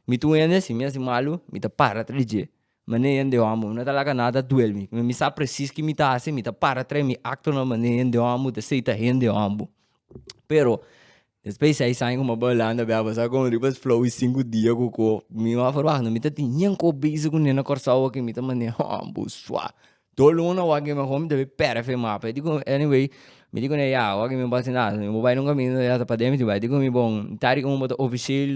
Mi tin un hende asin, mi hasi malu, mi ta para tra di dje. Mas na e hende hòmber, mi no ta laga nada duel mi. Mi sa presis ki mi ta hasi, mi ta para tra mi aktonan, mas na e hende hòmber, mi ta seita hende hòmber. Pero, despues di seis aña ku mi a bai Hulanda bia, bo sa kon riba sflou e sinku dia ku ko mi no a forba, mi no ta tin ningkò besig ku nena Kòrsou aki, mi ta manera hòmber, suav. Tur luna wak mi homi debe perfect e mapa. Di ku anyway, mi di ku ne ya, wak mi basi nada, mi bo bai nunka mi ya ta paden mi tin bai. Di ku mi bon, ta di un bo ta officieel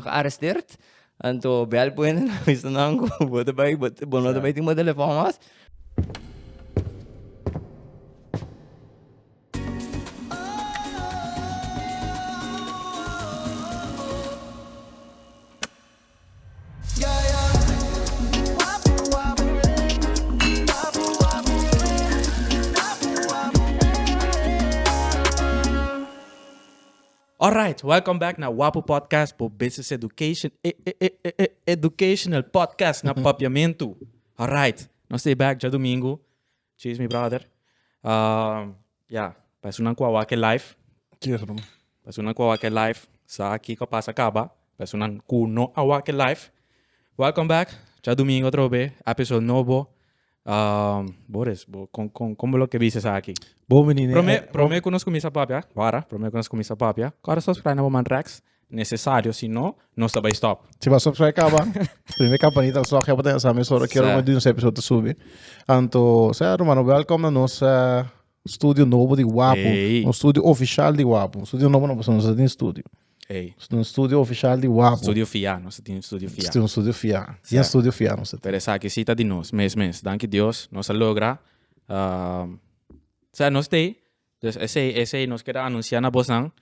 gearresteerd, anto bel puente na avisa nan ku bo ta bai, bo no ta bai tin bo telefòn mas. Alright, welcome back na Wapu Podcast, bo business education e e e e e educational podcast na Papiamentu. Alright, nos stay back djadomingo. Cheers mi brother. Um, ya, pa esunnan ku a wak e live, Cheers, bro. pa esunnan ku a wak e live, sa aki ku a pasa kaba. Pa esunnan ku no a wak e live, welcome back. Cha domingo otro be, episode nobo. Um, Boris, bo, kon, kon, kon bo lo ke bisa sa aki? Bon veni ne. Prome, eh, prome ku nos kuminsa papia, wara, prome ku nos kuminsa papia, kòrda subscribe na bo man Rex, Necesario si no nos ta bay stop. Si ba subscribe caba prime campanita al stroke heba ta en sa mes ora quiero moe dunse episodio ta subi anto sea rumano welcome na nos studio nobo di guapo un studio oficial di guapo studio nobo no pasobra nos ta tin studio Ey. un studio oficial di guapo studio fia nos ta tin studio fia un studio fia bien studio fia nos ta tin pero esaki si ta di nos mes mes danki Dios nos a logra sea nos stay Dus esei, esei nos keda anuncia na bosnan.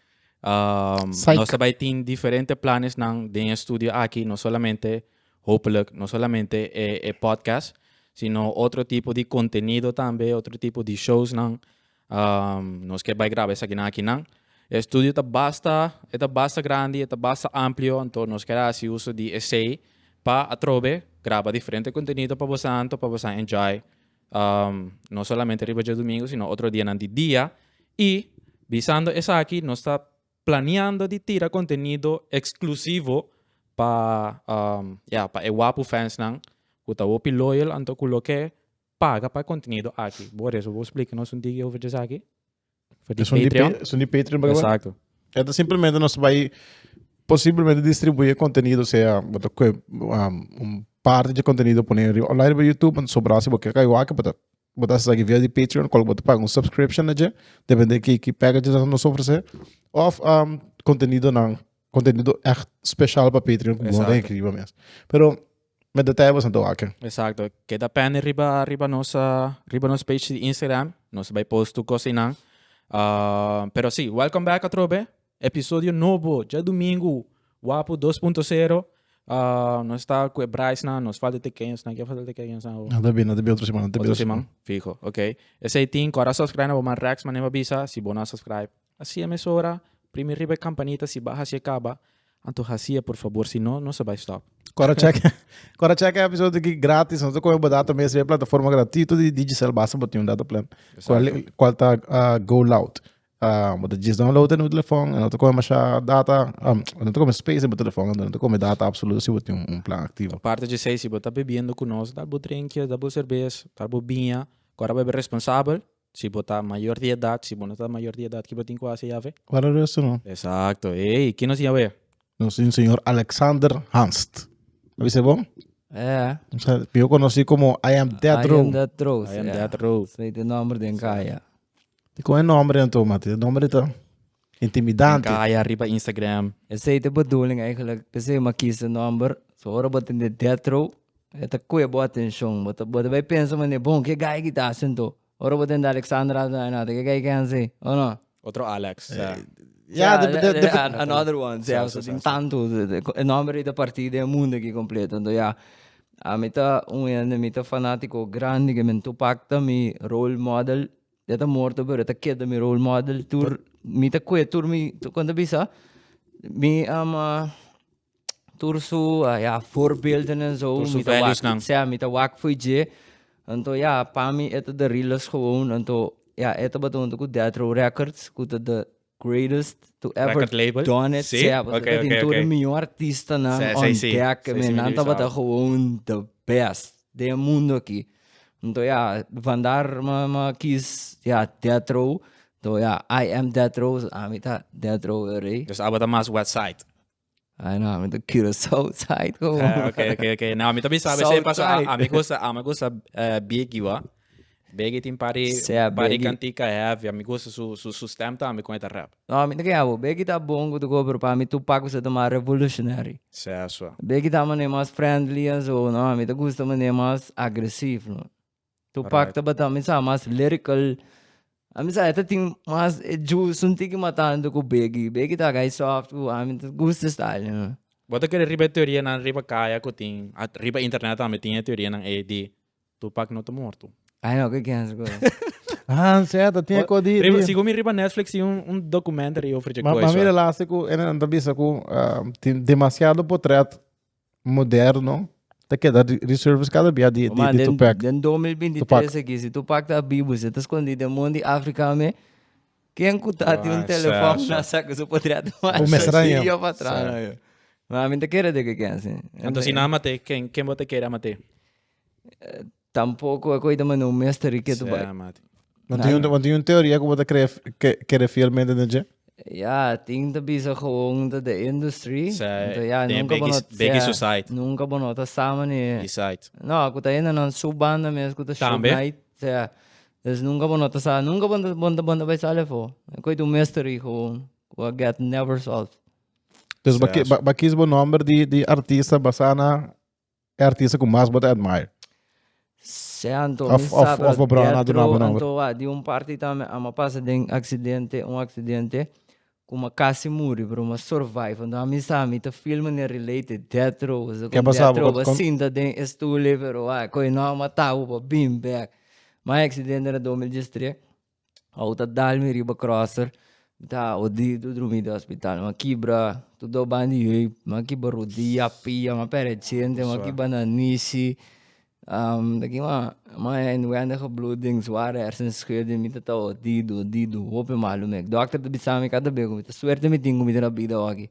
Um, Psych. nos tabay tin diferente planes nan den e studio aki, no solamente, hopelijk, no solamente e, e podcast, sino otro tipo di contenido tambe, otro tipo di shows nan. Um, nos ke bay graba esaki nan aki nan. E studio ta basta, e ta basta grandi, e ta basta amplio, anto nos keda hasi uso di esei pa atrobe graba diferente contenido pa bosan, anto pa bosan enjoy no solamente riba djadumingu sino otro dianan di dia. I bisando esaki nos ta planeando di tira contenido exclusivo pa ya pa e wapu fansnan cu ta hopi loyal anto cu lo ke paga pa e contenido aki. Boris, bo explica nos un tiki over esaki? For di Esun di, Patreon. pe, esun di Patreon pa kaba. Exacto. Esto simplemente nos va a posiblemente distribuir contenido, sea wat ook, um, un parte de contenido poner arriba online bij YouTube, en sobra si wat kijk waken, wat wat as zaki via de Patreon, kol wat paga un subscription na je, depende ki ki package dat nos ofrece, of um, contenido nan, contenido echt special pa Patreon, como Exacto. den kriba mes. Pero Met detalles na toa ken. Exacto. Keda pende riba riba nos riba nos page di Instagram. Nos bai post tur cos einan. Uh, pero si, welcome back atrobe. Episodio nobo, dje domingo, Wapu 2.0. Uh, nos sta cu e braisnan, nos falta tekeñosnan. Ken falta tekeñosnan? Oh. No te bi, no te bi otro semana, no te bi Otro otro semana. semana, fijo, ok. Esei tin, cora subscribe na bo man Rex, man neba bisa, si bo na subscribe, Haci'e mesora, primi riba e campanita si ba haci'e caba, anto haci'e por favor si no, nos a bay stop. Cora check Cora check e episode aki gratis nos ta coge bo data mes riba e plataforma gratuito di Digicel basta bo tin un data plan cual cual ta go loud bo ta djis download en bo telefon e no ta coge masha data e no ta coge space en bo telefon anto no ta coge data absoluto si bo tin un plan activo. Aparte d'esey si bo ta bebiendo cu nos dal bo drinkje dal bo cerbes tal bo biña cora bebe responsabel. Si bo ta mayor di edad, si bo no ta mayor di edad, kiba tin cu haci Yahweh? Wara di eso no. Exacto. Ey, kin nos Yahweh? Nos tin señor Alexander Hanst. A bisa bo? Eh. O sea, mihor conoci como I am Death Row. I am Death Row. I am Death Row. Sa y ta nomber den caya. Y con e nomber enton, mati? E nomber di ta? Intimidante. Tin kaya riba Instagram. Esei ta bedoeling eigenlik, p'esei bo a kies e nòmber. So ora bo tin den death row, e ta koe bo atenshon. Bo ta, bo ta bai pensa manera, bon, ke guy aki ta hasi anto? Ora bo tin den Alexander Hazen, a nota, ke guy ken hasi? O no? Otro Alex, sa. Ya, depende. Another one, sa. So tin tantu, e nòmber ei ta parti den e mundu aki kompleto. Anto ya, ami ta un hende, mi ta fanátiko grandi, ke men Tupac ta mi role model. Ya ta morto pero ta keda mi role model tur mi ta kue tur mi kon ta bisa mi um, uh, tur su uh, ya voorbeelden en zo Tur su mi ta values wak nan. sea mi ta wak voor je anto ya pa mi eta de rilas gewoon anto ya eta batonto ku death row records ku ta de greatest to ever Record label? done it. Sí? Sea, Oké, okay, oké, okay, okay. de mejor artistanan sí, on sí, deck. Sí, sí, nan tabata gewoon the best de mundo aquí. Entonces ja, vandaar ma, ma kies ja, Death Row. Entonces ja, I am Death Row, so ami ta Death Row, rey. Dus abo ta mas west side. Ah, no, mi ta Cura Southside. Como? Ah, ok, ok, ok. No, mi también sabe. Southside. Sepa, a, a mi gusta, a mi gusta uh, Biggie, wa. Biggie tin pari, sea, pari Biggie. cantica heavy. A mi gusta su, su, su stem también con esta rap. No, mi te que abo. Biggie ta bongo tu pero para mí Tupac was ta más revolutionary. Sea, so. Biggie ta mané más friendly en zo, no, mi te gusta mané más agresivo, no. Tupac tabata mi sa mas lyrical. A mi sa e ta tin mas e juice, un tiki mas tanto ku Biggie. Biggie ta gai soft ku ami ta gusta style nan. Bo ta kere riba e teorianan riba kaya ku tin, a riba internet tambe tin e teorianan ei di Tupac no ta morto. Ai no, ku ken su kos. Ah, sèt, a tin e kos di, Riba, di. sigun mi riba Netflix tin un, un documentary over dje Ma, ma koiso. mira lasi ku e nan ta bisa ku ah, tin demasiado potret moderno ta keda re- reserves cada bia di, di, Man, di den, Tupac. den 2023 Tupac. aquí, si Tupac ta bibu, si ta escondi den mon di Africa me, ken cu ta tin un Ah, telefon sa, sa. na sa cu su podria ta manda Con mesa raña. video pa atrás, Sa. no, yo. Ma, mi ta kere di cu ken, sí. Anto si nan a mat'é, ken, ken bo ta kere a mat'é? Tampoco cu ta manda un mes ta riqueto bay. Sea mati. Bo tin un, bo tin un teoria cu bo ta crea ke kere fielmente den dje? Ya, tin ta bisa gewoon ta de industry. Sea, Enton ya, den e nunca bo beki, no, beki sea, su site. nunca bo no ta sama ni, Di site. no, cu ta hende nan su banda mes cu ta show Tambe. night, sea, dus nunca bo no ta sa, nunca bo ta, bo ta, bo ta bay sali afo. E cu ta un mes ta ri gewoon, cu a get never solved. Dus bo, Sea, ki, bo, bo kis bo nomber di, di artista basá na e artista ku mas bo ta admire? Se anto mi sabi of bo brada na duna bo nomber. Anto di un parti tambe a ma pasa den aksidente, un aksidente ku ma kasi muri pero ma survive. Anto a mi sa mi ta feel manera related death row pasobra kon death row a sinta den e stule pero a koe no a matabu pa bin bek. My aksidente na dos mil diestres Awo ta dal mi riba crosser, mi ta awo dido drumi den hospital. Ma kibra, tu do ban di yui, ma kiba rodia, pia, ma perecente, ma kiba na nishi. Um, taki ma, ma inwendige bloeding, zware hersenschudding, mi ta ta awo dido, dido, hopi malu mek. Dokter ta bisa mi kada bia kumita suerte mi tin kumita na bida woki.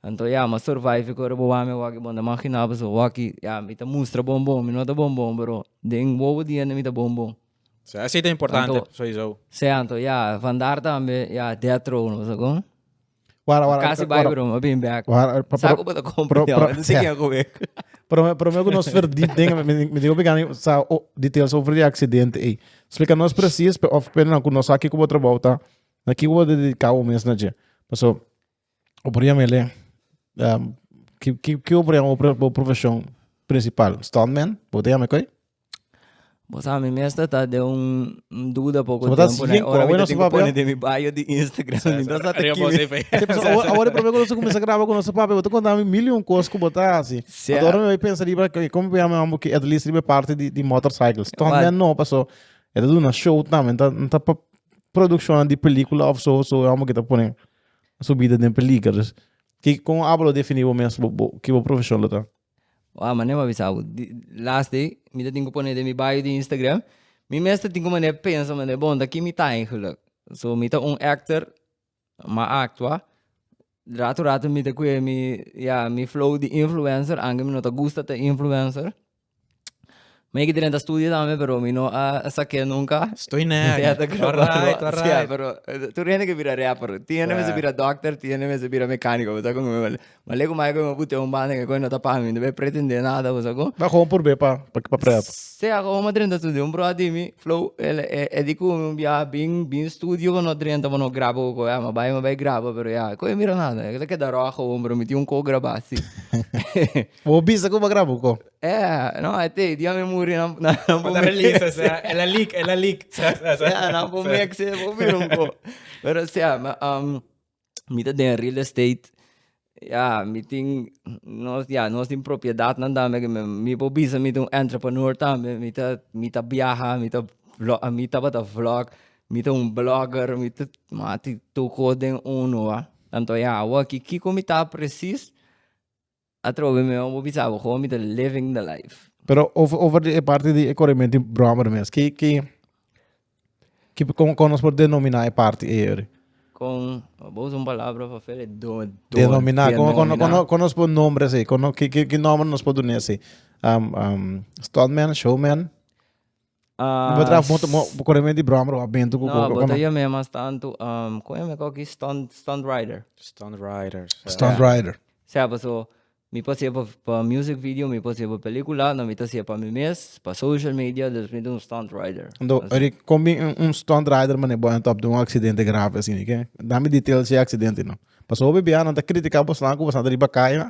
Anto ya, ma survive ku riba wami woki, bo ta maginabo su woki, ya mi ta mustra bon bon, mi no ta bon bon pero den wowo dianan mi ta bon bon. So esi ta importante, Anto- sowieso. Se anto, ya, vandaar tambe, ya, death row, no sa kon. Wara, wara, Kasi wara. bai, bro, ma bin back. Wara, wara, Sa pero- ko bata kompra, pero- ya, pero- si ke ko bek. Pero me, pero me que nos verdit ding, me, me, me digo pegani, sa, oh, details over the accident, eh. Explica nos precies, pe, of pena, ku nos aki kubo trabajo ta, na ki kubo dedicado mes na je. Paso, Obrero mele ki obrero obrero bo profesion principal stuntman bo ta yama koe? Bo sa mi mester ta den un duda poco tempo ne ora mi ta tin pone den mi bio di Instagram mi ta sa ta kibi. Awor e prome ku nos a kuminsha graba ku nos papia bo ta konta mi milion kos ku bo ta hasi ato mi pensa riba como bo yama mambo ke atlist riba e parti di motorcycle stuntman no paso e ta duna show tambe no ta producciona di pelicula of so so e homber ke ta pone. Su bida den peliger dus ki kon abo lo defini bo mes bo bo ki bo profesion lo ta? Wao mané bo a bisa bo di las day mi ta tin ku pone den mi bio di Instagram mi mes ta tin ku mané pensa mané bon ta ki mi ta eigenlik so mi ta un actor ma a aktua rato rato mi ta kue mi ya mi flow di influencer aunke mi no ta gusta ta influencer. Mi ki drenta studio tambe pero mi no a sakia nunka. Stoi nèk. Ja ta All right, all Ja, right. pero eh, tur hende ke bira rapper. Tin hende mester Ja. bira dokter, tin hende mester bira mekaniko, bo sa kon mi wale. Ma lei ku mai ku mi put'e un banda ke koe no ta pa mi, no be pretendé nada, bo sa kon. Ba gewoon por be pa pa pa prep. Sí, a gewoon a drenta studio. Un bròda di mi, Flow, el e e di ku mi un biaha bin bin studio bo no drenta bo no graba ku koe. Ah, ma bai, ma bai graba, pero ya, koe mira nada. Koe ta keda ròk gewoon, pero mi tin un koe grabá, sí. Bo bisa ku bo graba ku ko? Yeah, no, I think dia mi muri nan nan nan Pata pumi. release, o sea, el a leak, el a leak. Yeah, nan pumi ek se bo bira un ko. Pero o sea, ma, um, mi ta den real estate. Yeah, mi tin nos yeah, nos tin propiedadnan tambe ke mi mi por bisa mi ta un entrepreneur tambe. Mi ta mi ta biaha, mi ta vlo mi tabata vlog, mi ta un blogger, mi ta ma tin tur kos den uno, wa. Tanto yeah, awo aki kiko mi ta precies? Atrobe mi mema bo bisa bo como mi ta living the life. Pero over, over de parte de corrimiento de brommer mes, que, que, que, como, como nos por denominar e parte ayer? Con, vos un palabra para fele, do, do, Denominar, como, como, como, como nos por nombre así, como, que, que, que nombre nos por donar así? Um, um, stuntman, showman? Ah, Bo traf moto, mo, bo corre di brommer of bento cu No, bo ta yo me mas tanto, um, con yo me coge aquí stunt, stunt rider. Stunt rider. So. Stunt yeah. rider. Sea, pues, so, mi pa hacer pa music video, mi pa hacer pa película, no mi ta hacer pa mi mes, pa social media, dus mi un stunt rider. Do, ori, con mi un, un stunt rider, mane bo en top de un accidente grave, así, ni que, dame details de accidente, no. Paso, hobi bianan ta critica, bo slaan, ku bo slaan riba calle,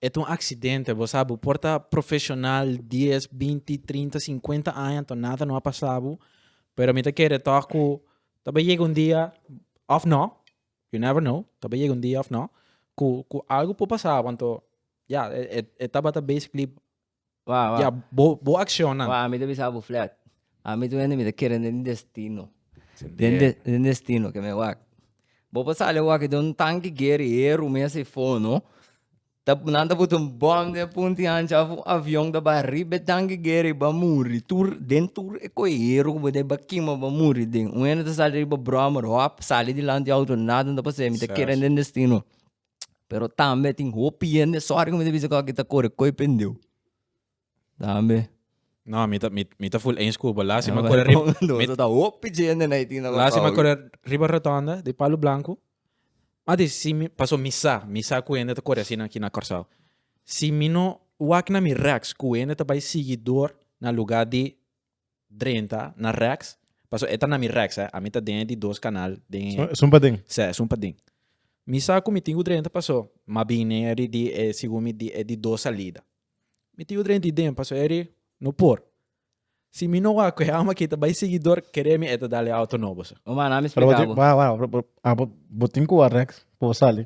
E ta un aksidente, bo sa, bo por ta profeshonal dies, binti, trinta, sinkuenta aña anto nada no a pasa bo, pero mi ta kere tòg ku ta bay yega un dia òf no, you never know, ta bay yega un dia òf no, ku algu por pasa bo anto ya, e tabata basically Wak, wak. Ya, bo, bo akshonan. Wak, ami ta bisa bo flat. Ami ta wende, mi ta kere den destino. Den, den, den destino, ke me wak. Bo por sali wak i den un tanki guerihero mes ei fono, ta, nan ta putu un bòm den punti ancha of un avion ta bai riba e tanki guera i bai muri. Tur, den tur e koeihero ku bo ta i bai kima, bai muri den. Un hende ta sali riba bròmmer, hòp, sali dilanti outo, nada no ta pas'é, mi ta kere den destino. Pero tambe tin hopi hende sorry ku mi ta bisa ku aki ta kore koy pendeu. Tambe. No, mi ta, mi, mi ta full eens ku bo. Last year mi kore riba... mi ta hopi hende na Haiti na Last year mi kore riba rotonda di Palo Blanco. Mi a di si mi, paso mi sa, mi sa ku hende ta kore asina aki na Kòrsou. Si mi no wak na mi rèks ku hende ta bai sigi dor na luga di drenta na rex paso e ta na mi rex eh a mi ta den e di dos canal den e es un paden se es un paden mi sa cu mi tin cu drenta paso ma bin nen e di e segun mi di e di dos salida mi tin cu drenta di den paso eri no por si mi no wak cu e ama kita bay sigui door kere mi e ta dal e auto nobo so. Humana mi explica bo. Waw waw bo tin cu wak rex po sali.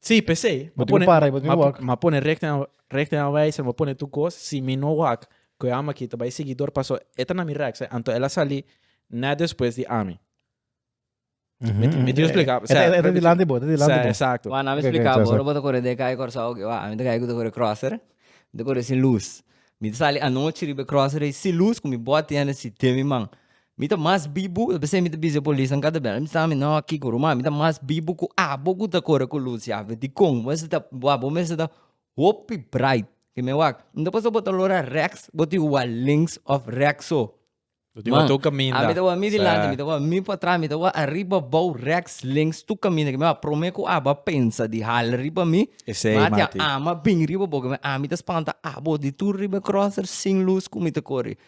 Sí, p'esei. Bo tin ku para i bo tin ku wak. M'a pone rèkte na rèkte na wèiser, m'a pone tur kos. Si mi no wak ku e ama akí ta bai siguidor paso e ta na mi rèks, anto el a sali nèt despues di ami. Mi tin splika, E ta e ta dilanti di bo, e ta dilanti di bo. Esakto. Wak na mi Oké, oké, splika bo, exacto. ora bo ta kore den e kai Kòrsou akí, wak, ami ta kai ku ta kore kròser, mi ta kore sin lus. Mi ta sali anochi riba e kròser ei sin lus ku mi bòt tene si te mi man. Mi ta mas bibu, ta p'esei mi ta bisa polis nan kata bel mi sa mi no a kiko ruma, mi ta mas bibu ku abo ku ta kore ku lus ya, but dikon? Bo mester ta wak, bo mester ta hopi bright, ke mi wak, mi ta pensa bo ta lora reks bo tin ku wak links of reks so, Bo tin ku wak man, tur kaminda, a mi ta wak mi dilanti, a mi ta wak mi pa tras, mi ta wak ariba, abou, reks, links, tur kaminda, ke mi wak prome ku abo a pensa di hala riba mi, Esei, mi a tin a Martin. ama bin riba bo, ke mi wak a mi ta spanta abo di tur riba e crosser sin lus ku mi ta kore,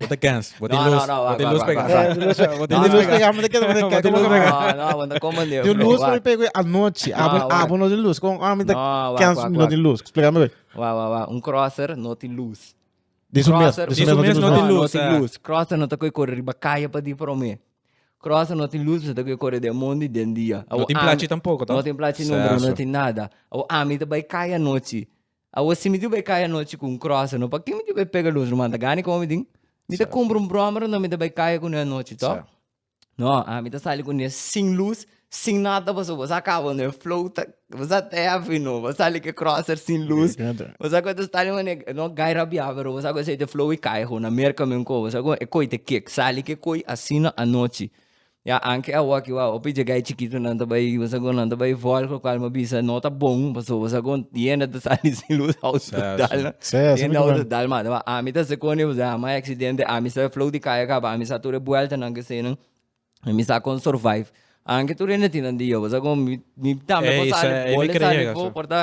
Bo ta kens. Bo tin lus. Bo tin lus pega. Bo tin lus pega. Bo tin lus pega. No, bo ta koman di. Tin lus for mi pega oi anochi. Abo, abo no tin lus. Kon, ah, mi ta kens mi no tin lus. Spliká mi oi. Wak, wak, wak. Un crosser no tin lus. Di su mes, di su mes no tin lus. No tin lus. Crosser no ta koi kore riba kaya pa di promé. Crosser no tin lus, mi ta koi kore den mondi, den dia. No tin plachi tampoko, to. No tin plachi, no, bro. No tin nada. Abo, ami ta bai kaya anochi. Awo si mi diu bai kai anochi ku un kròse no, pa ken mi diu bai pega los ruman? Ta gani kon Omidin? Mi ta kumpra un bròmero no mi ta bai kai kuné anochi tò. No, ami ta sali kuné sin lus, sin nada pasobra bo sa kaba no e flota, bo sa te hevi no, bo sali ku e kròse sin lus. Bo sa ku ta stali manera ku, no gai rabia pero bo sa ku esei ta flow i kai ho na Merka men ko, bo sa ku e koi ta kek, sali ku e koi asina anochi. Ya anke awa ki wou hopi jegay chikitu nan ta bay bosa gon nan ta bay vòl ku kual mi a bisa no ta bon paso bosa gon tienda ta sa di sin luz house ta dal nan Sí, así tienda mismo house ta es. dal mata ma ami ta sekoni bosa a mai aksidente ami sa flow di kaya kaba ami sa tur e buelta nan kesei nan mi sa kon survive anke tur hende tin nan di yo bosa gon mi mi tambe Ey, por sa sali ey, mi bole kree sali yega, fo sí. por ta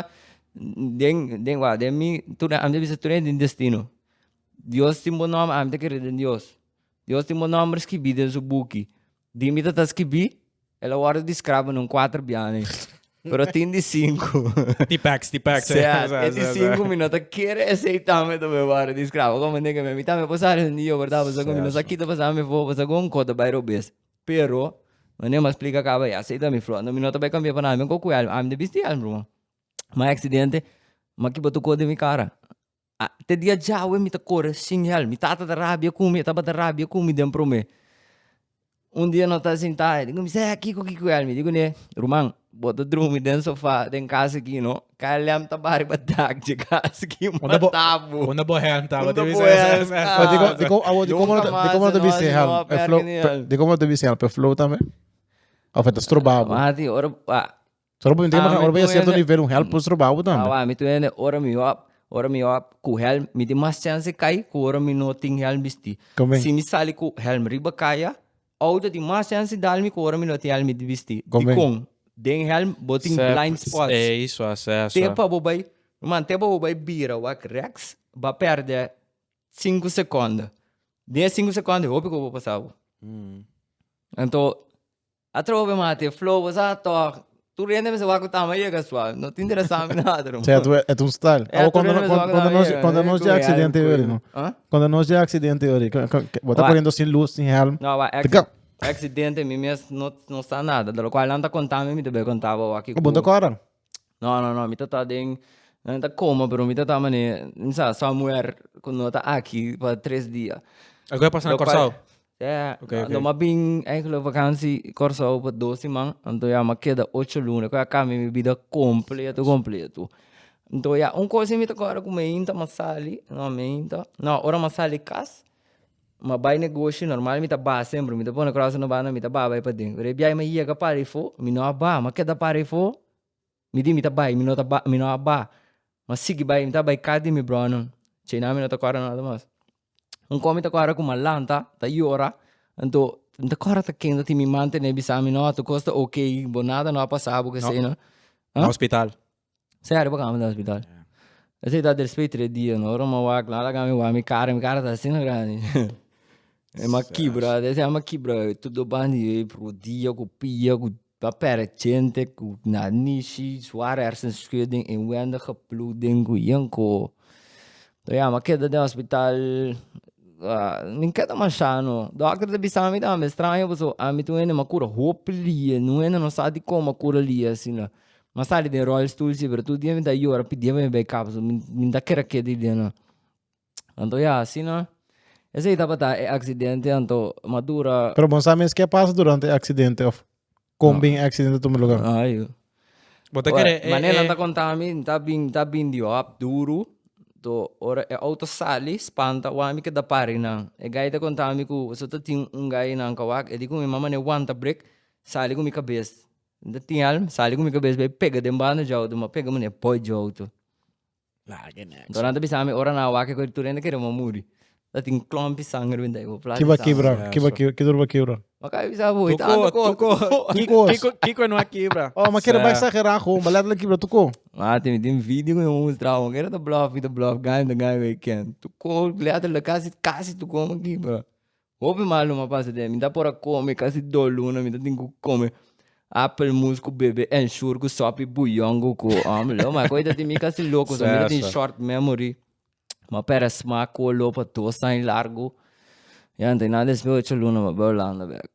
den den wak den mi tur ami ta bisa tur hende tin destino dios tin bo nòm ami ta kere den dios. Dios tin bo nomber skibí den su buki. Di mi tata skibí, el a wòrdu di skrabo na un kuater bianen. Pero tin di sinku. Ti pèks, ti pèks. Sea, e di sinku mi no ta kere esei tambe ta bai wòrdu di skrabo. Komo nega mi, mi tambe por sa res un dia, bèrdat? Pasobra mi no sa kita pasá mi afó, pasobra gon kos ta bai robes. Pero, mane mi a splika kaba ya, sei ta mi flòt. No, mi no ta bai kambia pa nada. Mi a koko ku hèlm. Ami ta bisti hèlm, ruman. Mi a aksidente, mi a kiba tukó den mi kara. A te dia djawe mi ta kore sin hel, mi tata ta rabia ku mi, e tabata rabia ku mi den promé. Un dia no ta sintá, e dikume, Zé, kiko ki ku el? Mi dikuné, Ruman, bo ta drumi den sofá den kas aki, no? KLM ta bai riba dak dje kas aki, mata bo. Unda bo hèlm ta? Bo ta bisa e hèlm sta? Dikomo, awo, dikomo no ta bisa e hèlm? E flow, dikomo no ta bisa e hèlm? E flow tambe? Of e ta stroba bo? Mati, ora, Solo pa mi tende bakal ora bay a cierto nivel un helm por stroba bo tambe. Awa, mi tu ene ora mi hop, ora mi hop cu helm, mi tin mas chance cai cu ora mi no tin helm bisti. Come? Si mi sali cu helm riba caya, auto tin mas chance dal mi cu ora mi no tin helm mi tin bisti. Come? Dicon? Den helm bo tin Sep, blind spots. Ey, eso a ser, eso Te a. pa bo bay, man, te pa bo bay bira wak rex, ba perde cinco seconden. Den e cinco seconden e hopi cu bo pasa bo. Anto. A trobe mate e flow sa tog. Tur rende mester wak cu ta ama yega suave. No ta interesá mi nada, no. Sea, tu et un style. Awo cuando nos cuando cuando nos cuando nos de accidente yo ri no. Cuando nos de accidente yo ri. Bo ta corriendo sin luz sin helm. No awa acci accidente mi mes no no sa nada. De lo cual nan ta conta mi mi ta be conta bo awa ki cu. Bo ta cora. No no no mi ta ta den no ta coma pero mi ta ta mane mi sa sa muer cu no ta aki pa tres dia. El cu a pasa na Curaçao? Yeah, okay, okay. lo ma bin eigenlijk vakantie Curaçao pa dos siman, anto ya ma keda ocho luna cu a cambia mi bida completo completo. Anto ya un cosa si mi ta acorda cu mi ainda ma sali, no mi ainda, no ora ma sali cas Ma bai negoshi normal mi ta ba semper, mi ta pone cross na banda mi ta ba bai paden. Pero e biaha mi a yega para efo mi no a ba, mi a keda para efo mi di mi ta bai mi no ta ba mi no a ba mi a sigui bai mi ta bai cas di mi bronan ce nan mi no ta acorda nada mas. Un con mi ta acorda cu malanta ta yora anto mi ta acorda ta kende tin mi man tene bisami no tocosta ok bo nada no a pasa bo kesey no. Na hospital. Sea riba cama den hospital. Esa yey ta despues tres dia, no ora mo wak, lo a laga mi wak, mi cara, mi cara ta asina grandi. E ma kibra, esa yey a kibra, todo bandi yey, rodia cu pia, cu a pere chente, cu na nishi, zwaar hersenschudding, inwendige bloeding, cu yinko. So ya, mi a keda den hospital, mi keda masha no, dokter ta bisa mi tambe, straño pasobra ami tin wende mi a cura hopi lie, no wende no sa dicon mi a cura lie asina, M'a sali den rolstoel si, pero tur dia mi ta yora pidi bai bay kap so, mi mi ta kere keda di dia nan. Anto ya asina esei tabata e aksidente anto m'a dura. Pero bo no sa mes ke a pasa durante e aksidente òf kon bin e aksidente tuma lugar? Ajo. Bo ta kere e Manera nan ta e konta mi ta bin ta bin di hòp duru, to ora e outo sali spanta wak mi keda pari nan. E guy ta konta mi ku so ta tin un guy nan kawak e di ku mi mama ne wanta brek sali ku mi kabes. Nta tin al sali ku mi kabes bai pega den banda djou tu m'a pega mane poi djou tu. Anto nan ta bisa mi ora nan a wak e koritur nan ta kere bo muri. Ta tin klompi sanger bindei bo plaat di Kiba sanger. kibra? Kiba kibra? Ke dor ba kibra? M'a kai bisa bo, e tando kos. Tuko, tuko. Kiko, kiko no a kibra? Oh, m'a kere bai exagerá kon, m'a letterlijk kibra tuko. Mati, mi tin video ku mi a mustra bo, kera ta blòf, i ta blòf, ganga, ganga i ken. Tuko, letterlijk, kasi, kasi tuko m'a kibra. Hopi maluma a pasa den mi ta por a come casi dos luna mi ta tin cu come apple moes cu bebe ensure cu sopi bouillon cu cu ome lo ma cu ta tin mi casi loco so mi ta tin short memory ma pere smaak cu a lopa dos aña largo ya ante na despues ocho luna mi a bay Holanda bek.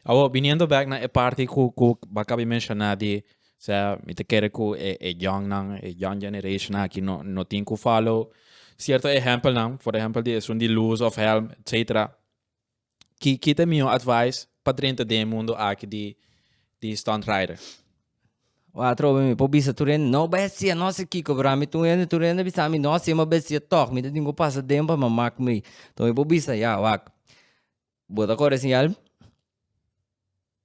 Awor, biniendo bek na e parti ku ku Baca a bin menshona di sea, mi ta kere ku e e youngnan, e young generation aki no no tin ku follow sierto ehèmpelnan, for ehèmpel di esun di luz òf hèlm, etsetera. Ki ki ta e mihó advise pa drenta den e mundu aki di di stunt rider? Wak atrobe mi por bisa tur hende, no bèstia, no si kiko, pero ami tur hende tur hende a bisa ami, no, si e mas bèstia tòg, mi ta tin ku pasa den pa mamak mi. Enton mi por bisa, ya, wak, Bo ta kore siñal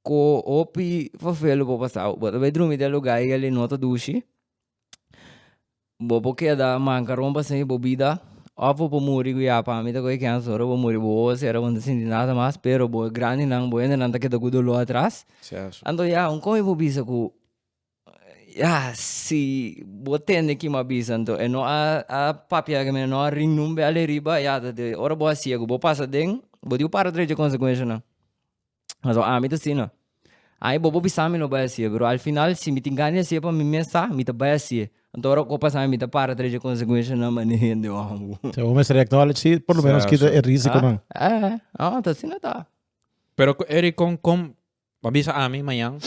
ku hopi fafel lo por pasau, bo ta bai drumi den lugá ei alí no ta dushi, bo por keda mankaron pa sinti bo bida òf bo por muri ku ya pa mi ta kore kiansu ora bo muri bo wowo sera bo no ta sinti nada mas, pero bo grandinan bo hendenan ta keda ku doló atras, anto ya aun kon mi por bisa ku Ya, si bo tende ki m'a bisa anto e no a a papia riba, e no a ring nun be ale riba, ya ta de ora bo a siga ku bo pasa den bo di bo para dret di e konsekuenshanan. Pasobra ami ta asina, ai bobo bisa mi no bai a siga, pero al final si mi tin gana di a siga pa mi mes sa, mi ta bai a siga. Anto ora ku a pasa mi ta para dret di e konsekuenshanan ma ni hende amo. Sea, bo mester acknowledge si por lo menos kita e risikonan. Eh, ta asina ta. Pero ku Eric kon kon a bisa ami mañan.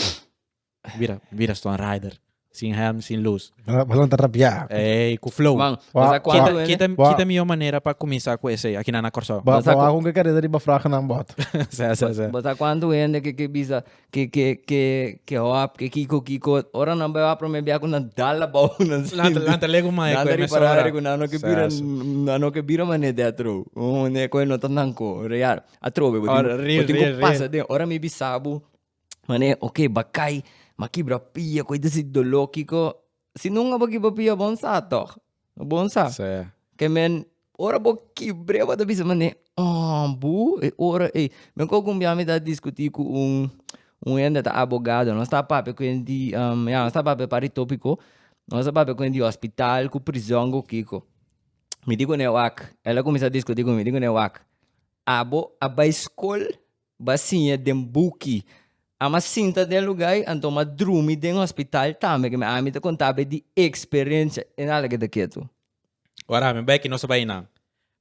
Mira, mira Storm Rider. Sin helm, sin luz. Balon, balon ta rapiá. Ey, cu flow. Man, Wa- sa cuanto Kita, kita, Wa- kita mihor manera pa cuminsa cu esey. Aki nan na Corsao. Ba, Sa- ba, con que carrera riba fraga nan bot. Sa, sa, sa. Bota cuánto hende que que bisa que que que que hop que kiko kiko ora nan beba prome bia kuna dala bau nan Lanta, lanta lego mae Nanda cu di para emesora. kuna no que Sa, bira sa. na no que bira mane de atro. Oh ne ko no tan nanko real. Atro be Ora, real, real, real. pasa de ora mi bisabu Mane, ok, ba kai, ma kibra pia, koi desi doló, kiko, si nunka bo kibra pia, bon sa tòg, bon sa. Sí. Ke men, ora bo kibr'é, bo ta bisa, mane, ah, bu, e ora ei. Me ko kumbiá mi ta diskutí ku un, un hende ta abogado, nos ta papia ku e di, ya, nos ta papia par e tópiko, nos ta papia ku e di hospital, ku prizòn, ku kiko. Mi di kune wak, el a kuminsá diskutí ku mi, mi di kune wak, abo a bai skol? Ba siña den buki. A m'a sinta den lugá ei, anto m'a drumi den hospital tambe, ke mi ami ta kontá ab'e di eksperensia. E nada ke ta ketu. Ora mi bai ki nos a bai nan,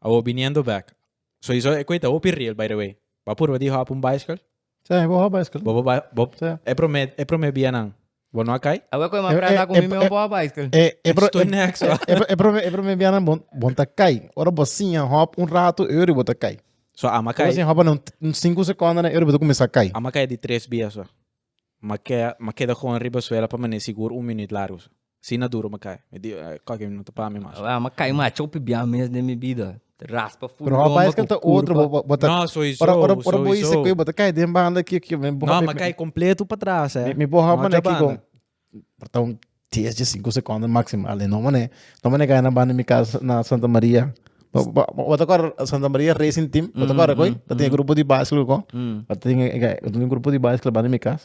awor biniendo bek. So i so e koe ta hopi riel, by the way. Bo a purba di hop un bicycle? Sí, bo hop bicycle. Bo bo bai, bo, e prome, e prome bia nan. Bo no a kai? Awe koe ma prata ku mi mi obo a bicycle. Eh, eh, bro, Estoy eh, next, eh, hoor. eh, bro, eh, bro, eh, bro, me bianan bon, bon ta kai. Ora bo sinha hop un rato, e ori bo ta kai. So ama Ora kai, sinha hop na un, un cinco seconden, e ori bo ta kumesa kai. ama kai di tres bia so. Ma kea, ma keda gewoon riba suela pa mane sigur un minuut largo so. Sina duro ma kai. Mi di, eh, koki no ta pa mi mas. Awe ama kai ma chopi bia mes den mi bida. Raspa full Pero how bias kan ta otro bo bo ta No, soy so, Ora ora ora soy bo ise so. kui bo ta kai den banda ki ki men bo No, ma kai completo pa atrás, eh. mi bo how No, mané ki Jabana. kon porta un 10 de 5 secondo maximo ale no mané no mané kai na banda mi casa na Santa Maria bo bo bo ta kor Santa Maria racing team bo ta kor akoi ta tin e grupo di baiskil ko Mm. pa tin e e un grupo di baiskil banda mi casa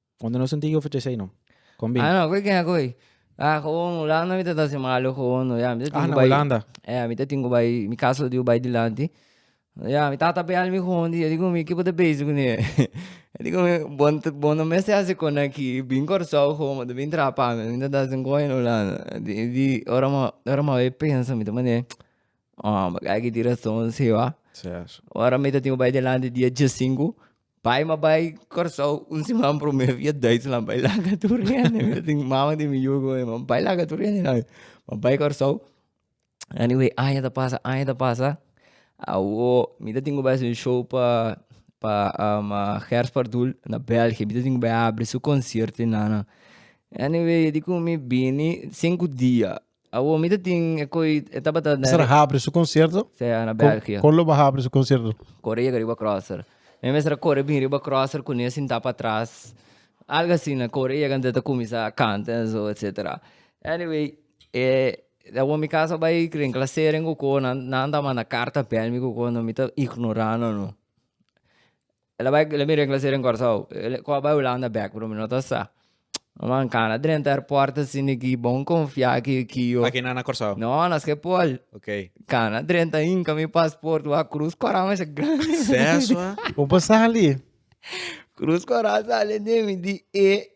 Cuando no sentí yo fechesei no. Con bin. Ah, no, koe kena koe. Ah, gewoon Hulanda mi ta ta sin malo gewoon no. Ya, mi ta tin ku bai. Ah, na Hulanda. Ya, mi ta tin ku bai, mi casa lo diu bai dilanti. Ya, mi tata pe al mi gewoon di, e di ku mi, ki bo ta bezi ku ne? E di ku mi, bon, bon no mester hasi kon aki, bin Kòrsou gewoon, bo ta bin traha pa mi, mi ta ta sin koe na Hulanda. Di, di, ora mi, ora mi a bai pensa, mi ta mane, Hòmber, aki tin rason si, wak. Seas. Ora mi ta tin ku bai dilanti dia dje sinku, Bai ma bai Kòrsou un siman promé via Duitsland bai laga tur hende mira tin mama di mi yugo e man bai laga tur hende nan ma bai Kòrsou anyway aña ta pasa aña ta pasa awo mi ta tin ku bai haci un show pa pa Gers Pardoel na België mi ta tin ku bai habri su konsierto e nanan anyway dikun mi bini sinku dia Awor mi ta tin e koi e tabata na Mester habri su concierto? Sí, na Kon- België. Kon lo ba habri su concierto? Corre llega riba crosser. Mi mester a corre bin riba crosser cu ne sinta pa atras. Algo asina, corre llega antes ta cuminsa canta en zo, etcetera. Anyway, eh, awor mi casa bay den claseren cu co, nan, nan ta manda carta bel mi cu co, no mi ta ignora nan no. El a bai, lo mira e klasero den Kòrsou, el kò bai Hulanda bèk bro, mi no ta sa. Manan kana drenta airport asin di ki, bon konfia aki ki yo. Aki nan na Kòrsou? No, na Skepol. Ok. Kana drenta hinka mi pasport wak, krus kòrá masha grandi. Sèswa? Bo por sali? Krus kòrá sali den mi di e.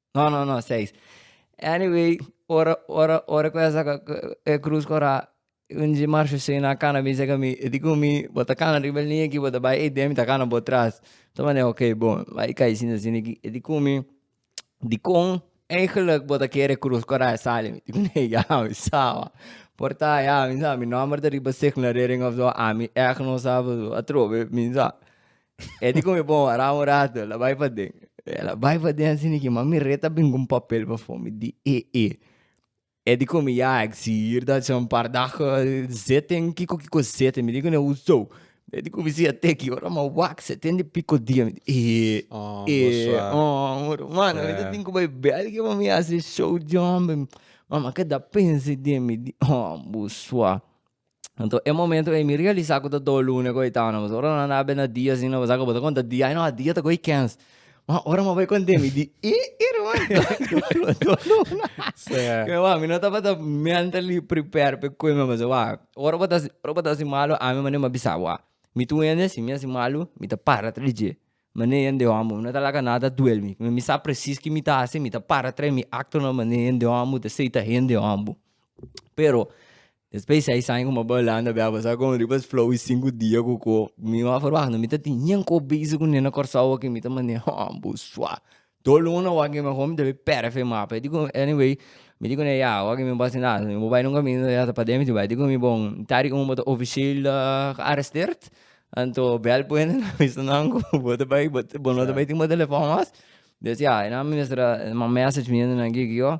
No no no seis anyway ora ora ora ku esa e krus kora un dje marsho shei na kana a bisa ka mi e di ku mi bo ta kana riba e lini aki bo ta bai ei den mi ta kana bo tras ta mane ok bo bai kai shini shini aki e di ku mi dikon eigenlik bo ta kere krus kora a sali mi di ku mi ya mi sa ba por ta ya mi sa mi nomber ta riba signa rering of zo ami echt no sa bo a trobe mi sa. E di come bon, ara un rato, la bai paden. E la bai paden así ni que mami reta bin con papel pa voor me di e e. E di come ja, ik zie hier dat je een paar dagen zit en kiko kiko zit. En me di kone hoezo? E di come si a teki, ora ma wak zit en di piko dia. Me di e e. Oh, E bo suave. oh, mor mano, me di Yeah. tin ku bai België pa mi hasi show di homber. Mama ke da pensa den, me di oh, bo suave. Anto e momento ei mi realisa ku ta dor luna ku ei tawna mas ora nan a benda di asina bo sa ku bo ta konta di ai no a dia ta ko'i kens. Ma ora mi bai konte mi di i irman mi dor luna. Ke wak mi no tabata mentally prepare pa e koe mi base wak ora bo ta ora bo ta hasi malu ami mane mi a bisa bo a mi tu hende si mi hasi malu mi ta para tra di dje mane hende homo mi no ta laga nada duel mi mi sa presis ki mi ta hasi mi ta para tra mi acto nan mane hende homo ta esei ta hende homo pero Despues seis aña cu mi a bay Hulanda bia, paso a come riba es flow y cinco dia cu co. Mi no a verwacht, no mi ta tin yen cu bezig cu nena Corsou aki, mi ta manda yen haa bo sua. Dos luna wak yen mi a come mi ta bay pere fe mapa, mi dico anyway, mi dico ne ya wak yen mi bo a haci nada, mi bo bay nunca mi ya ta pade mi tin bay, dico mi bon ta riba un bo ta officieel gearresteerd, anto bel puente na bisa nan cu bo ta bay, bo no ta bay tin bo telefon mas, mi a mester a manda message mi nena gigio.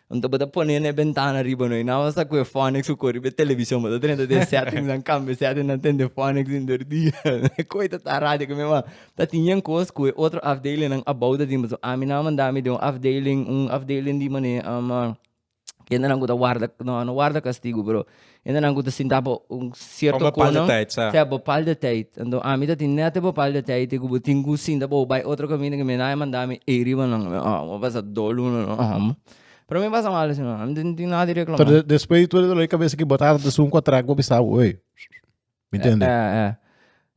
Anto bo ta pone n'e bentana riba no, i nan basa cu e fonics cu cor riba e television, bo ta drenta den e settings nan, cambia e settings nan ten den fonics den dor dia, cu ita ta radio cu mi mama, ta tin yen cos cu e otro afdeling nan abao ta tin, pasobra ami nan a manda mi den un afdeling, un afdeling di mane, kende nan cu ta warda, no, no warda castigo pero. Hende nan ku ta sinta pa un sierto kono. Bopal de teit, sa. Sa, bopal de teit. Anto ami ta tin nèt e bopal de teit ei ku bo tin ku sinta pa bo bai otro kaminda ku mi na a manda mi ei riba nan. Bo a pasa dos luna lo amo. Pero mi pasa mal asina. Ami no tin nada di reklamá. Pero despues di tur e dolor di kabesa ki bo ta hànta esun ku a traka bo a bisa bo, ey. Mi tende? Eh, eh.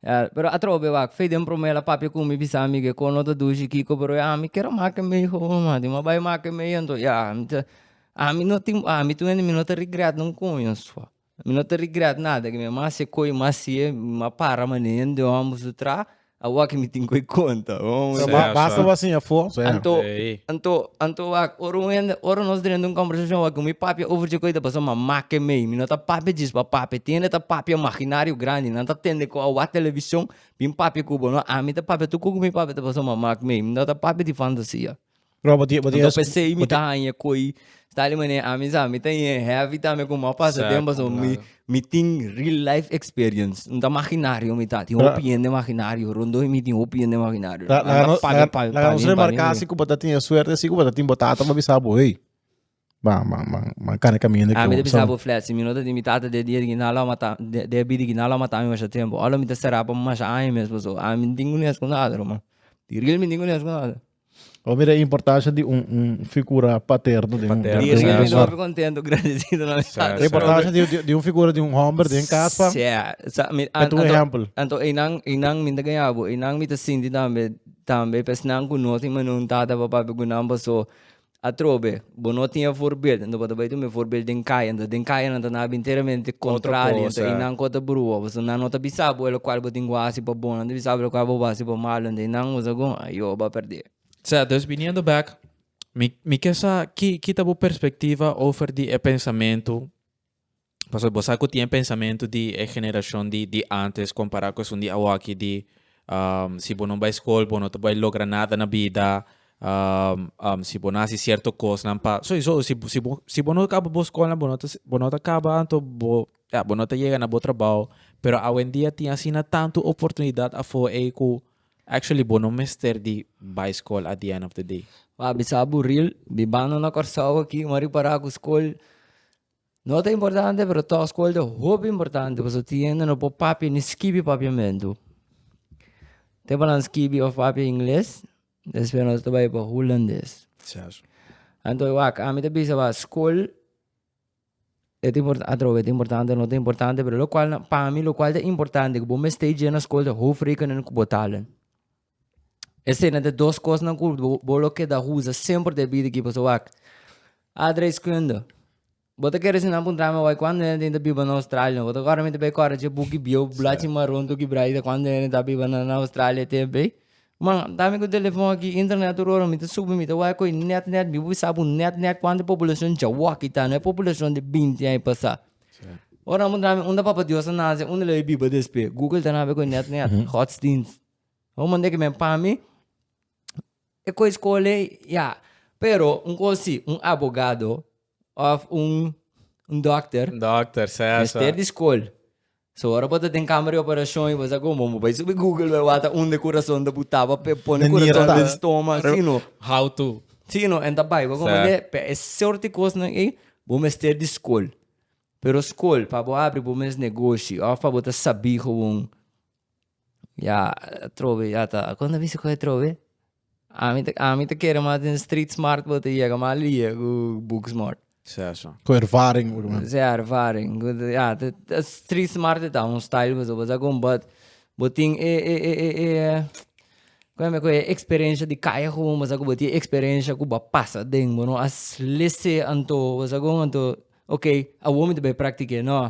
Eh, pero atrobe wak, fe den promela papia ku mi bisa mi ke kon no ta dushi kiko, pero ya mi kero make mei ho ma, di mi a bai make mei anto ya mi ta ami no tin ami tu hende mi no ta regret un koño sua, mi no ta regret nada, mi a mas e koe mas siye, mi a para mane hende hom a su traha, A wak mi tin cu e conta. Basta bo a siña afo. Anto, anto, anto wak. Ora un hende, ora nos drenta un combersacion wak cu mi papia over dje cu a ta pasa, ma make mee. Mi no ta papia djis pa papia. Tin hende ta papia imaginario grandi. Nan ta tende cu a wak television bin papia cu bo. No, ami ta papia tur cu cu mi papia ta pasa, ma make mee. Mi no ta papia di fantasia. Bro, bo tiene, bo tiene. Anto pesei mi ta hañe koi tali manera ami sa mi ta ñe heavy tambe ku mou pasa Exacto, tempo so mi claro. mi tin real life experience no ta maginario mi ta tin Ra- hopi hende maginario rondo mi tin hopi hende maginario La, la, Anda nos, paga la, pa- la pa nos mí, pa remarca mí. así como está tiene suerte así como está tiene botata para avisar bo hey. Ban ban ban ban kane kaminda ke Ami ta bisa bo flat, si mi no ta tin mi tata den dia di kina lo a mata den a bida kina lo a mata mi masha tempo, ora mi ta sera pa masha aña mes paso ami mi no tin kunes ku nadre man, di real mi no tin kunes ku nadre. Bo mira e importancia di un un figura paterno den un den un hogar. Di real mi no hopi contento gradecido na mi tata. E importancia di un figura di un homber den cas pa pa tu ehempel. Anto einan einan mi ta gana bo einan mi ta sinti tambe tambe pa esnan ku no tin mane un tata pa pape ku nan paso Atrobe, bo no tin e voorbeeld, enton bo ta bai tuma e voorbeeld den kaya, enton den kaya nan ta na binteramente contrario, enton i nan ku a ta brua bo, so nan no ta bisa bo lokual bo tin ku hasi pa bon, nan ta bisa bo lokual bo hasi pa malu, enton i nan usa ku a yo bo a perdé. Sea, dus biniendo back, mi mi ke sa ki ki ta bo perspectiva over di e pensamentu? Pasobra bo sa ku tin e pensamentu di e generashon di di antes kompará ku esun di awoaki di si bo no bai skol bo no ta bai logra nada na bida, si bo no hasi sierto kosnan pa soisou si si bo si bo no kaba bo skolnan bo no ta bo no ta kaba anto bo ya bo no ta yega na bo trabou pero awendia tin asina tantu oportunidat afo ei ku actually bo no mester di bai skol at di end of di day. M'a bisa bo real bibando na Kòrsou aki m'a ripará ku skol. No ta importante pero tog skol ta hopi importante pasobra tien nan por papia ni skibi papiamentu tempo nan skibi of papia ingles despues nos ta bai pa hulandes anto wak ami ta bisa ba skol e ta impor atrobe e ta importante no ta importante pero locual nan pa mi locual ta importante ku bo mester djina skol ta hoofdrekening ku bo talen. Esena de dos kosnan ku bo lo keda usa semper den e bida aki pasobra wak, adreskunde, bo ta kere sinan puntra mi awor kuantu hende tin ta biba na Australia? Bo ta kòrda mi ta bay kòrda dje buki bieu blachi maron tok di braita kuantu hende ta biba na Australia tempu ei? Ma dami ku telefòn aki, internet tur ora mi ta subi mi ta wak koe nèt nèt, mi wak sa bo nèt nèt kuantu populashon djawòk i ta, no e populashon di binti an i pasa. Ora mi puntra mi unda Papa Dios a nase, unda lo e biba despe? Google ta na bay koe nèt nèt, hot stings. pa mi e koe skole ya pero un koe si un abogado of un dokter mester di skol so ora bo ta den kamer di operashon bo sa komo bo bai subi google bai wata unde kurason ta buta pa pone kurason den stoma si no how to si no en ta bai bo komo ke pa e sort di kosnan ei bo mester di skol pero skol pa bo abri bo mes negoshi of pa bo ta sabi gewoon. Ya atrobe ya ta a konta bisti koe atrobe ami ta ami ta kere mas den street smart bo ta yega mas lia ku book smart Seso. Ku ervaring por lo menos. Sea ervaring ku ya ta ta street smart e ta un style pasobra bo sa kon but bo tin e e e e e kon a mi a koe e experencia di kaye komo bo sa ku bo tin e experencia ku bo a pasa den bo no a sle se anto bo sa kon anto okay awor mi ta bai praktik'e no.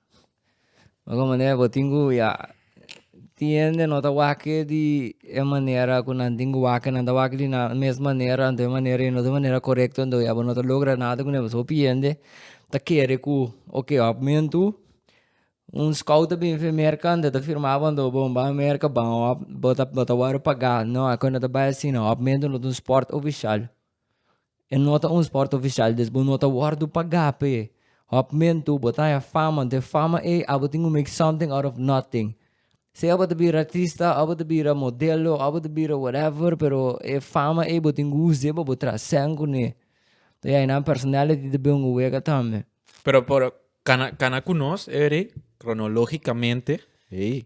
Algun manera bo tin ku ya tin hende no ta wake di e manera ku nan tin ku wake, nan ta wake di nan mes manera, anto e manera i no ta e manera korekto anto ya bo no ta logra nada ku nan, pasobra hopi hende ta kere ku oke òf mentu un skout ta bin fen merka anto ta firma bo anto bon bai merka ban òf bo ta wòrdu pagá, no akoba no ta bai asin, òf mentu no ta un spòrt ofishal. E no ta un sport oficial des bo no ta wordo paga p'e hop mentu bo ta haña fama den fama ei abo tin cu make something out of nothing sea bo ta bira artista of bo ta bira modelo of bo ta bira whatever pero e fama ei bo tin cu use deba bo trascend cune ta ya nan personality ta bin un wega tambe. Pero pero cana cana cu nos Eric cronologicamente ey.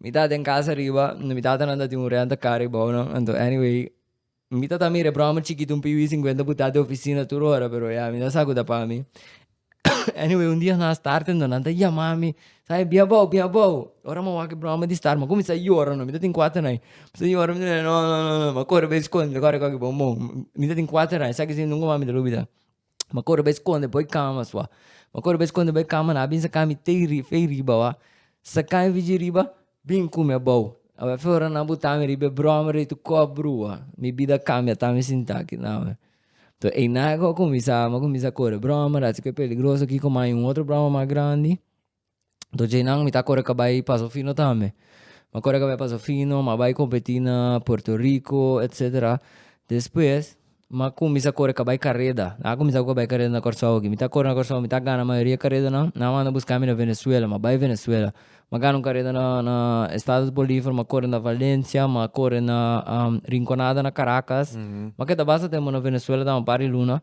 Mi ta den casa riba, mi tatanan ta tin un renta car ribao no, anto anyway, mi ta ta mira e broma chikito un pibi cincuenta putat den oficina tur ora, pero ya mi no sa cu ta pa mi. anyway un dia na start anto nan ta yama mi, sa e bia bou, bia bou, ora mi a wak e broma di start mi a cuminsa yora no, mi ta tin cuater ai, mi yora mi ta no no no, mi a corre bai sconde, corre cogi bo, mi ta tin cuater ai, sa kisi nunca mas mi ta lo bida. Ma kor bai skonde bo e kama sua ma kor bai skonde bo e kama na binsa kami tei ri fei riba wak sakai fiji riba bin kume abou aba effe ora nan botami riba e broma riba tu kop brua mi bida a kambia ta mi sinta aki nada to eina ago a kuminsá a kuminsá kore broma a si ke peligroso aki komo hay un otro broma mas grandi. Anto djeinan mi ta kore ka bai paso fino tambe. Mi kore ka bai paso fino, mi a bai kompetí na Puerto Riko etsetera. Despues mi a kuminsá kore ka bai kareda. Mi a kuminsá ku bai kareda na Kòrsou aki. Mi ta kore na Kòrsou, mi ta gana mayoria karedanan. Nan a manda buska mi na Venezuela, mi a bai Venezuela. Mi a gana un kareda na na Estados Bolívar, mi a kore na Valencia, mi a kore na Rinconada na Caracas. Mi a keda basta tempu na Venezuela tambe un par di luna.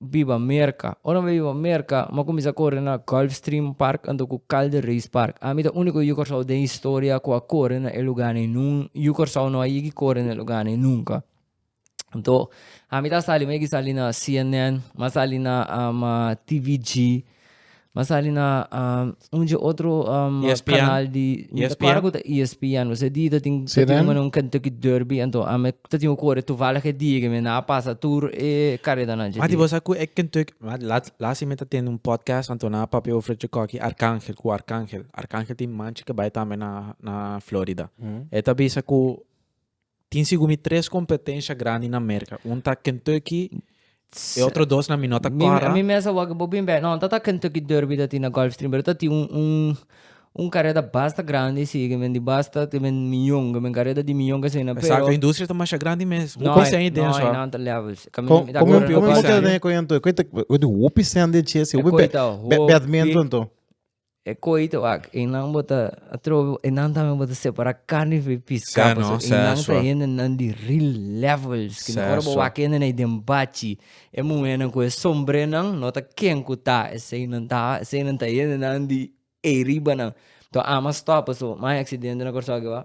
Biba Merca. Ora mi biba Merca, mi a cuminsa core na Gulfstream Park anto cu Calder Race Park. Ami ta unico yu Corsao den historia cu a core na e luganan nun. Yu Corsao no a yigi core na e luganan nunca. Anto, ami ta sali, mi a yigi sali na CNN, mi a sali na TVG, Bo a sali na un dje otro canal di ESPN. Bo sa e dia ta tin un Kentucky Derby anto ami ta tin un kore tuvallig e dia ke mi na pasa tur e karedanan dje. Mati bo sa ku e Kentucky, last year mi ta tende un podcast anto nan a papia over e Chikoki Arkangel ku Arkangel. Arkangel tin manchi ke bai tambe na Florida. E ta bisa ku Tin segun mi tres competencia grandi na Merca. Un ta Kentucky, e otro dos na mi no ta clara. Mi, mi mes a wak bo bin bek. No, no ta ta Kentucky Derby ta tin na Gulfstream, pero ta tin un, un, un careda basta grandi si, ke men di basta, ke men miyon, ke men careda di miyon ke asina, pero. Exacto, industria ta masha grandi mes. No Hopi hay, no hay nada levels. Ka mi, mi ta Como, corre como, na como Gulfstream. te den koe anto? Koe ta, koe ta hopi sen den chesi, hopi Koe bek, ta bek, hopi. bek admento anto. E koito ak e nan bo ta atrobe e nan tambe bo ta separa carne for e pisca paso e nan ta hende nan di real levels kina ora bo wak hende nan den bachi e muhernan ku e sombrenan no ta ken ku ta esei nan ta esei nan ta hende nan di ey ribanan to ama stop paso mai accidente na Kòrsou aki ba.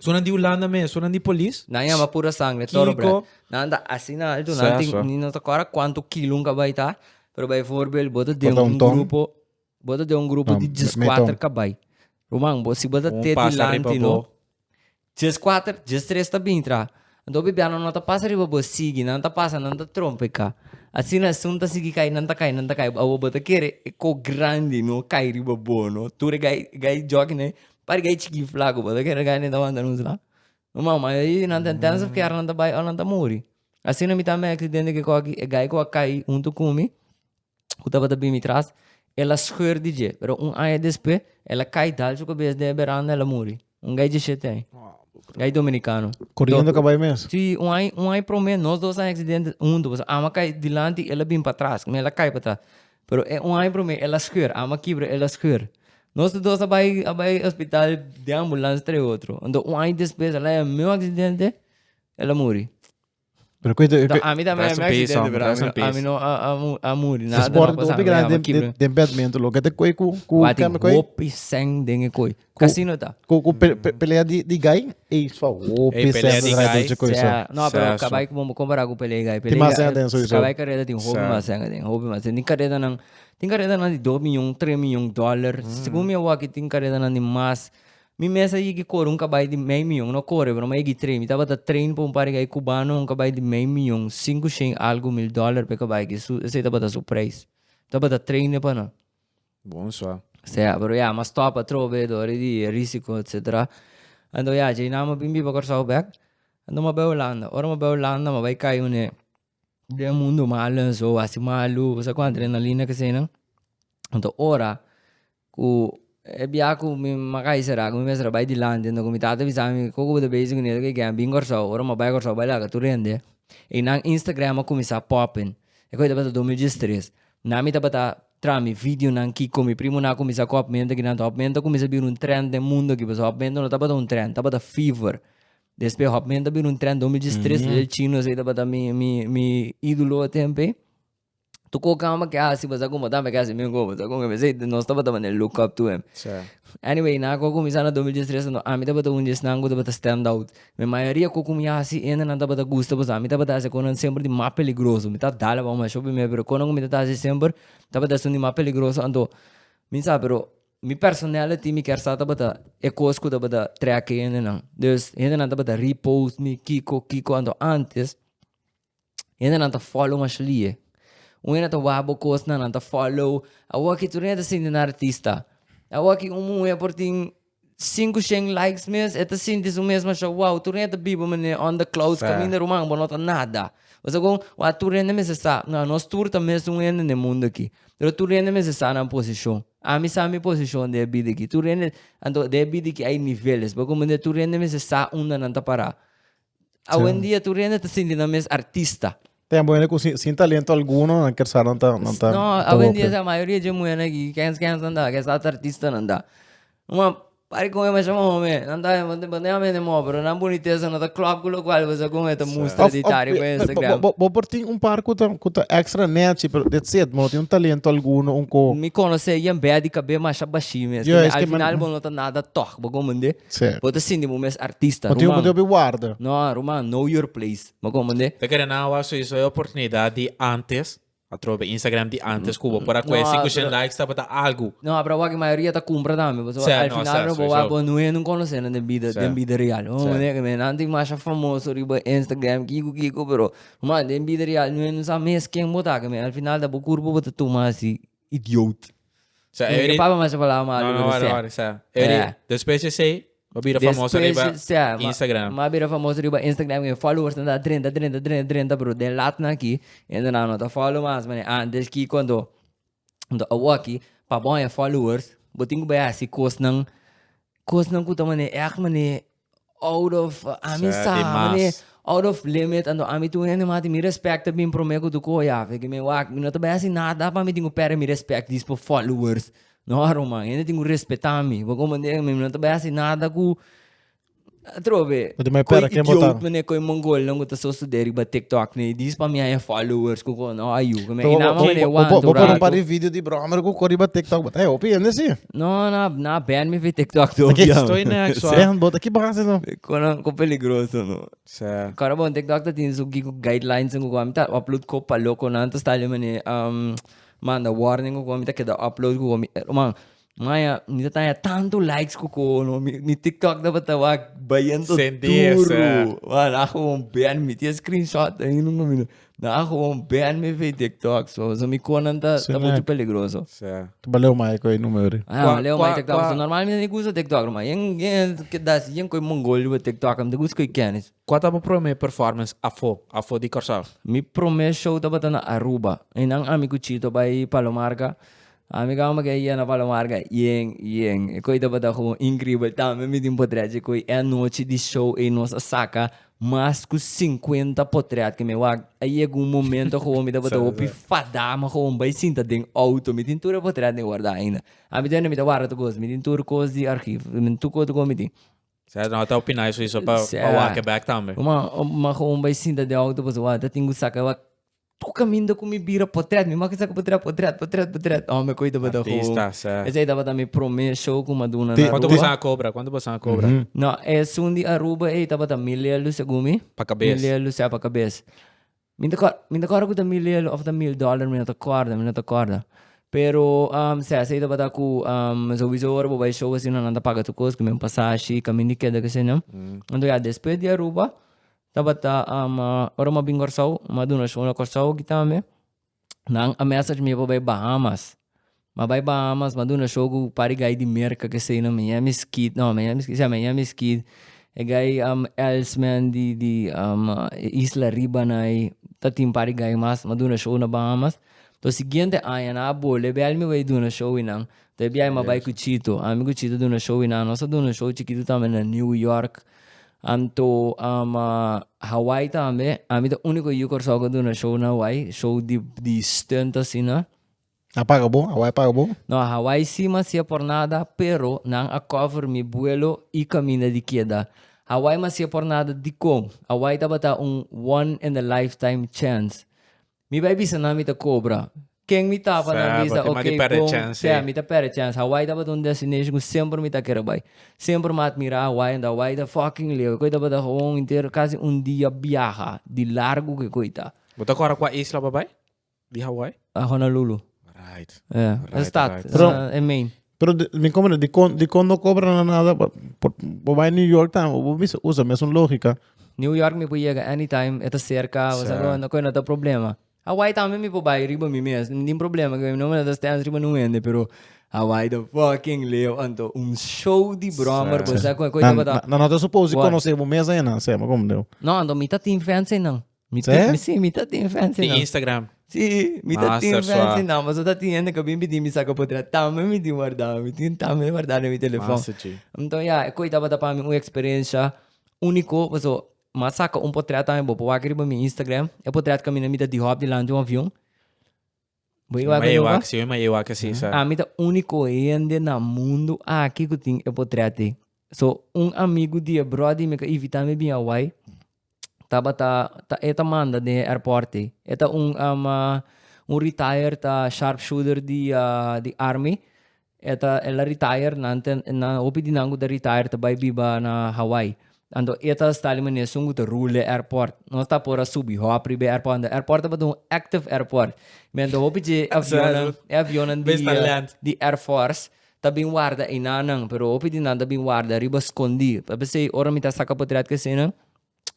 So nan di Hulanda mes, so nan di polis. Nan yama pura sangre toro bret. Kiko? Nan ta asina alto, nan Sa, tin, sa. ni no ta kora kuanto kilo un kabai ta, pero bay voorbeeld, bo ta den Bota un un ton. grupo, bo ta den un grupo Ah, di me- djes me kuater ton. kabai. Ruman, bo, si bo ta Un teti pasa riba lanti, no, bo. djes kuater, djes tres ta bini traha. Anto bibianan no ta pasa riba bo, sigui, nan ta pasa, nan ta trompe ka. Asina esun ta sigui kai, nan ta kai, nan ta kai, awor bo ta kere e ko grandi, no, kai riba bo, no. Tur e gai, gai jòkina ei, Pari k'ey chiki flaku bo ta kere k'ey nen ta wanta nos la? No mama, ma ey nan ta intenso p'e kier nan ta bai ò nan ta muri. Asina mi ta a mèkri dende kiko aki, e guy ku a kai huntu ku mi, ku tabata bin mi tras, el a skeur di dje, pero un aña despues el a kai dal su kabes den e beranda el a muri. Un guy dje shete aña, guy dominikano. Koriendo kabay mes? Sí, un aña, un aña promé nos dos a heksidente huntu, pasobra ama kai dilanti, el a bin patras, k'me el a kai patras. Pero e un aña promé el a skeur, ama kibra el a skeur. Nos tur dos a bai a bai hospital den ambulans trei otro. Anto un aña despues el a haya miun aksidente, el a muri. Pero ku ento Anto ami tambe a Rest haya in miun peace, aksidente, hombre. Rest in pero ami peace. no a a a mu- a muri, nada no a Sport e pasami, hopi ami grandi ama den kibra. den den badminton lo. Ke ta koe ku ku Wak tin kame koe? hopi sèn den e koe. Cu, Casino ta. cu, cu pe- pe- pelea di, di gay, ey, pa hopi Ey, pelea sendo di draai gay. dolce coisa. Ja, no, pero Sexo. cabai como comparado con pelea guy. Tem más gente en sowieso. Cabai carrera tem hobby Sa. más gente, tem hobby más gente. Tem carrera nan, tem carrera nan di 2 miljoen, 3 miljoen dollar. Según mi awo aki tem carrera nan di más. Mi mes a yigi corre un cabai di mei miljoen, no corre, pero mi a yigi train. Mi tabata train pa un par di guy cubano, un cabai di mei miljoen, cinco, shen algo mil dollar pe cabai aki. Su, esey tabata su prijs. Tabata trainen pa nan. Bon sa. Sea, pero ya, mas stop atrobo be dori di risiko etc. Anto ya, djei nan bo bin biba Kòrsou bèk. Anto m'a bai Hulanda. Ora m'a bai Hulanda m'a bai kai un'e den mundu malu en so, hasi malu, bo sa kuantu adrenalina k'eseinan. Anto ora ku e biaha ku mi m'a kai sera, ku mi mester a bai dilanti, anto ku mi tata a bisami, kiko ku bo ta bezi ku nieto ke ke a bin Kòrsou? Ora m'a bai Kòrsou a bai laga tur hende. Einan Instagram a kuminsá popping. E kos ei tabata dos mil diestres. Nan mi tabata Tra mi videonan kiko mi primonan a kuminsá ku hòpmenta kinan. Ta hòpmenta kuminsá bira un trènt den mundu aki, pasobra hòpmenta no tabata un trènt, tabata fever. Despues hòpmenta bira un trènt dos mil diestres, despues e chinos ei tabata mi mi mi ídolo e tempu ei. Tokó kamba ke hasi pa sa ku motá mi a ke hasi mingó, pasobra kon ke bisei nos tabata manera di look up to him. Anyway nan ku a kuminsá na dos mil diestres, ami tabata un di esnan ku tabata stand out. Mi mayoria cu cu mi a haci hende nan tabata gusta pasá mi tabata haci conan semper di mas peligroso, mi ta dala pa un masho prome pero conan cu mi ta ta haci semper tabata esun di mas peligroso anto mi sa pero mi personality mi kier sa tabata e cos cu tabata treki hende nan, dus hende nan tabata ri post mi kico kico anto antes. Hendenan ta follow Mashley. Un hende ta wak bo kosnan, nan ta follow. Awor aki tur hende sinti nan artista. Awor aki un muhe por tin sinku shen likes mes, e ta sinti su mes masha wow. Tur hende ta biba mane under clouds, kaminda ruman, bo no ta nada. Bo sa kon, wa tur hende mester sa, no, nos tur ta mes un hende den mundu aki. Pero tur hende mester sa nan posishon. Ami sa mi posishon den e bida aki. Tur hende, anto den e bida aki ai niveles. Bo comprende? Tur hende mester sa unda nan ta para. Awendia tur hende ta sinti nan mes artista. Tem muhernan ku sin, sin talento alguno nan ker sa nan ta nan ta. No, awendia sa mayoria dje muhernan aki kens kens nan ta ke sa ta artista nan ta. Kuma pari kon e masha mo home, nan ta bende a mende mo pero nan bunitesa no ta klòp ku lokual bo sa kon e ta mustra di tari ku Instagram. Bo por tin un par ku ta ku ta extra nèchi pero that's it, bo no tin un talento alguno un ko. Mi konosé Jan Bèt di kabé masha bashi mes, al final bo no ta nada tòg, bo kompende? Sèt. Bo ta sinti bo mes artista, Bo tin oportunidat ruman. di warda. No, ruman, know your place. Bo comprende? Te kere nan awa suiso e oportunidat di antes, atrobe bo Instagram di antes ku bo por a kuhé sinku shen likes tabata algu. No, pero awaki mayoria ta kumpra tambe, pasobra Sèt, al no, final sèt, no bo suiso. bo nunhe no konosé nan den bida, den Sèt. bida real. Bo Sèt. comprende? Kende nan tin masha famoso riba Instagram, kiko kiko, pero ruman den bida real nunhe no sa mes ken bo ta, kende al final ta bo kurpo bo ta tuma asi. Idioot. Sa Eri. Eri papa mas a falaba malo no, no, wari, wari, sa Eri. Yeah. Despues di esei, bo bira famoso riba Instagram. Ma, ma bira famoso riba Instagram, e followers nan ta drenta, drenta, drenta, drenta, pero den latnan aki, hende nan no ta follow mas, mane antes ki cuando anto awaki, pa bo haña followers, bo tin ku bai hasi kosnan, kosnan ku ta mane, èk mane out of ami Sa, sa di mas. mane out of limit anto ami tu un hende mas di mi respect ta bin prome ku tu koe a feki mi wak mi no ta bai hasi nada pa mi tin ku perde mi respect dis for followers no aro man hende tin ku respeta mi bo komprende mi mi no ta bai hasi nada ku atrobe But di mai pera koe ken idiot botaron. mane koe mongolnan ku ta so stude riba tiktok mane dis pa mi haña followers ku ko no a yuka mi a inama mane wan tur rato Bo por un par di video di bromer ku ko riba tiktok but hey hopi hende si. No, na, na ban mi fi TikTok to. Aquí ya. estoy next, so. Dejan bot, aquí bajas no. Konan ko peligroso no. Sa. Kora bon TikTok ta tin su giku guidelines en kuko amita upload ko pa loko nan ta style mane um manda warning kuko amita keda upload kuko mi man maya mi ta taya tanto likes kuko no mi mi TikTok tabata wak bayendo Sentir, sa. duro man a gewoon ban mi ti e screenshot ahi no mami no. Nan a gewoon ban mi via TikTok, so so mi con nan ta ta Sinek. mucho peligroso. Sa. Tu baleu mai ko e numero di. Ah, Kwa- Leo kwa- mai TikTok, kwa- so normal mi ni usa TikTok, no, ma yen yen ke das yen koi mongol di TikTok, am de usa koi kennis. Kua ta bo prome performance afo, afo di Kòrsou? Mi prome show tabata na Aruba, e nan ami ku Chito bai Palomarca, A mi kama ke yena Palomar ka yen yen e koi tabata gewoon increíbel tambe mi tin potret chi koi e anochi di show ey nos a saca mas cu cincuenta potret ke mi wak a yega un momento gewoon mi tabata hopi fada mi gewoon bay sinta den auto mi tin tur e potret ni guarda ainda a mi tende mi ta guarda tur cos mi tin tur cos di archivo tur cos tur cos mi tin. Sea no ta opina eso pa wak e bek tambe. Mano ma gewoon bay sinta den auto pasobra ta tin cu saca tur caminda cu mi bira potret, mi maki sa cu potret, potret, potret, potret. Oh, me coi tabata hoop. Artistas, eh. Esey tabata mi prome show cu Maduna Ti- na Quanto Aruba. bosa a cobra? Quanto bosa a cobra? Mhm. No, esun di Aruba ey tabata mil lelu segun mi. Pa cabes. Mil lelu, sea, pa cabes. Mi no ta cor- mi no ta corda cu ta mil lelu of ta mil dollar, mi no ta corda, mi no ta corda. Pero, am, sea, esey tabata cu, am, souiso ora bo bay show asina nan ta paga tur cos, cu mi un pasashi, caminda y keda, kesey no. Anto ya, despues di Aruba, Tabata ama ora m'a bin Kòrsou m'a duna shon na Kòrsou aki tambe. Nan a mèsage mi pa bai Bahamas. M'a bai Bahamas m'a duna shon ku par di gai di Merka k'esei na Miami Skid, no Miami Skid, si a Miami Skid. E gai Elsman di di isla ribanai, ta tin par di gai mas. M'a duna shon na Bahamas. Toh siguiente aña nan a bolbe biaha mi bai duna shon wi nan. Toh e biaha m'a bai ku Chito. Ami ku Chito duna shon wi nan. Nos a duna shon chikitu tambe na New York. Anto ama Hawaii tambe. Ami ta unico yu Corsou cu duna show na Hawaii. Show di di stunt asina. A paga bo? Hawaii a paga bo? No, Hawaii si mas sia por nada, pero nan a cover mi buelo y caminda di keda. Hawaii mas sia por nada dicon? Hawaii tabata un one in a lifetime chance. Mi bai bisa nan mi ta cobra. Ken mi taba nan bisa Sabo, ti man di ok perde bon chance. sea mi ta perde chance. Hawaii tabata un destination cu semper mi ta kere bai. Semper mi a admira Hawaii and Hawaii ta fucking leu. Eco'i tabata gewoon henter casi un dia biaha di largo cu eco'i ta. Bo ta acorda cua isla bo a bai di Hawaii? Honolulu. Right. Yeah. Right, Stad. right. Pero- eh, eh, Maine. Pero di, mi como di con, di con no cobra na nada, pa, por, por bai New York tan, o bisa usa mesun lógica. New York mi por yega anytime, e ta cerca, o sea, Sa. no, koe no ta problema. Hawaii tambe mi por bai riba mi mes, no tin problema, koe no me ta stens riba un hende, pero Hawaii ta fucking leo, anto un show di brommer, bo Sa. sa koe, koe Na, tabata, na, na no ta supose di Word. conoce bo mes ain nan, Seba, como deu? No, anto mi ta tin fans ain nan. Mi Sí? tin, sí, mi ta tin fancy Di number. Instagram. Sí, mi ta Master tin fancy Swa. number. So ta tin hende que bin pidi mi saca por atrás. Tambe mi tin guardá, mi tin tambe guardá den mi telefoon. Master G. Entonces ya, e coi tabata pa mi un experiencia único, paso m'a saca un portret tambe bo, por wak riba mi Instagram. E portret caminda mi ta di hop dilanti un avion. Bo igual cu Jehová? Yo me Jehová que sí, ¿sabes? A mí ta único gente na mundo aquí que tiene el portrete. So, un amigo de brody me que invita me bien Hawaii. Taba ta, ta, e ta manda de airport. E ta un, um, uh, un retired uh, sharpshooter de, uh, de army. E ta el a retire nan ta nan hopi di nan ku ta retire ta bai biba na Hawaii anto e ta Stanley Maneson ku ta rule e airport nos ta por a subi hop riba e airport anto e airport tabata un active airport mi anto hopi dje avionnan e avionnan di di air force ta bin warda einan nan pero hopi di nan ta bin warda riba skondi ta p'esei ora mi ta saka potret ku eseinan.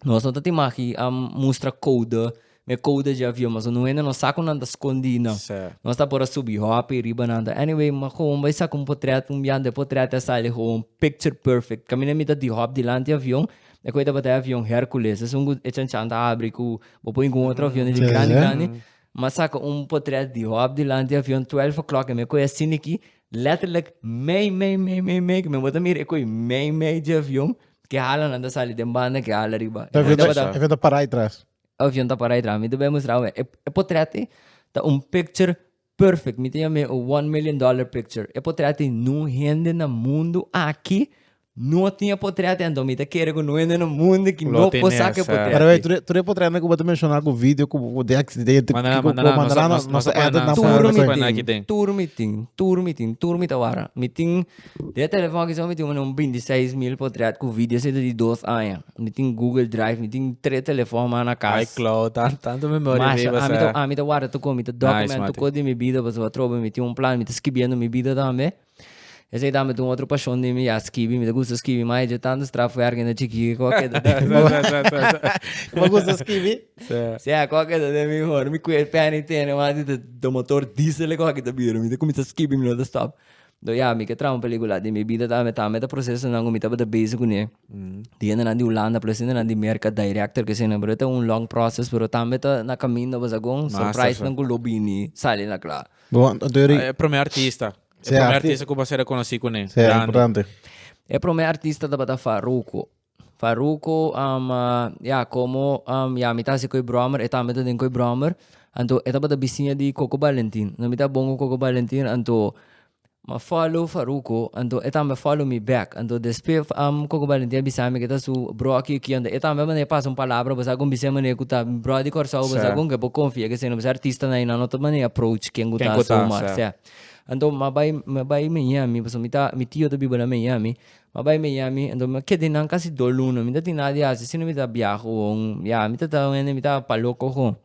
Nos no ta tin maki a mustra koude, me koude dje avion, mas no hende no sa ku nan ta skondi nan. Sè. Nos ta por a subi hopi riba nan. Ta, anyway, mi gowon bai saka un potrèt, un biaha den e potrèt a sali gowon picture perfect. Kaminda mi ta di hòp dilanti avion, e kue tabata e avion Hercules, esun ku e chanchan ta abri ku bo pon ku un otro avion dje grandi grandi. Mi a saka un potrèt di hòp dilanti avion, twèlf o'clòk, i mi a kohe asin aki. Letterlijk mei mei mei mei mei, mi bo ta mira e koe mei mei di avion ke hala nan ta sali den banda ke hala riba. E avion ta e avion ta para aitras. E avion ta para aitras, mi ta bai mustra awor. E potret ei ta un picture perfect, mi ta yama e one million dollar picture. E potret ei no hende na mundo aki No tin e potret en do mi ta kere ku no hende na mundu ki no por sa ku e potret. By the way, tur tur e potret ku bo ta menshona ku video ku bo di aki di ente Manda nan, kiko manda nan. Nos a edit nan for every time. Tur mi tin, tur mi tin, tur mi tin. Tur mi tin, tur mi ta wara. Mi tin di e telefòn aki so mi tin un binti seis mil potret ku video seta di dos aña. Mi tin Google Drive, mi tin tres telefòn mas na kas. iCloud, tan tantu memoria mi basa. Masha, ami ta wara tukon, mi ta document tukon di mi bida pasobra atrobe mi tin un plan, mi ta skibiendo mi bida tambe. Esei ta mete un otro pasion den mi ya skibi, mi ta gusta skibi mai, dje tanto straf fu ergende chiki ke ko a keda den mi mor. Bo a gusta skibi? Sea, ko a keda den mi mor. Mi kuer pen i tene mas i ta ta motor diesel e koki ta bira. Mi ta kuminsa skibi, mi no ta stop. Nto ya, mi ke traha un pelikula den mi bida tambe, ta mete prosesonan ku mi tabata bezi kuné, di hendenan di Hulanda plus hendenan di Merka, director kesena, pero e ta un long process, pero tambe ta na kaminda, basha kon surprisenan ku lo bini sali na kla. E prome artista. E prome artista ku bo a ser rekonosí kuné. Grandi. E prome artista tabata Farruko. Farruko, ya, komo ya mi ta hasi ku e bròmmer, e tambe ta den ku e bròmmer, anto e tabata bisiña di Koko Balentin. Mi ta bon ku Koko Balentin, anto Ma follow Faruco, anto e tambe follow mi back. Anto despe am Coco Valentin a bisa mi ke ta su bro aki aki, anto e tambe manda e pasa un palabra, Bo sa gon bis'e manera ku ta mi bro di Kòrsou, bo sa gon ke bo konfia ke eseinan bo es artistanan i nan no ta manda approach ken ku ta su Marcè. Anto m'a bai m'a bai Miami, pasobra mi ta mi tio ta biba na Miami, m'a bai Miami, anto m'a keda einan kasi dos luna, mi no tin nada di hasi sino mi ta biaha ohon, ya mi ta ta ohende mi ta palo coco.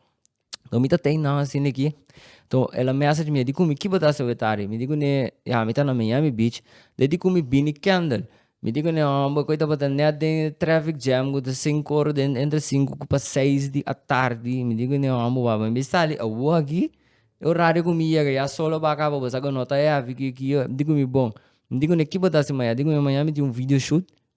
Lo mi ta tei nan asin aki. To el a message mi, di cu mi kiba ta hasi awe tardi? Mi di cu ne, ya, mi ta na Miami Beach. Dor di cu mi bini Kendall. Mi di cu ne, homber, cu ey tabata net den traffic jam, cu ta cinco ora den, entre cinco cu pa seis di atardi. Mi di cu ne, homber, wou, mi sali awo aki. E horario cu mi yega, ya sol a baka pa boso, ago no ta heavy aki. Mi di cu mi, bon. Mi di cu ne, kiba ta hasi maya? Di cu mi, maya mi tin un video shoot.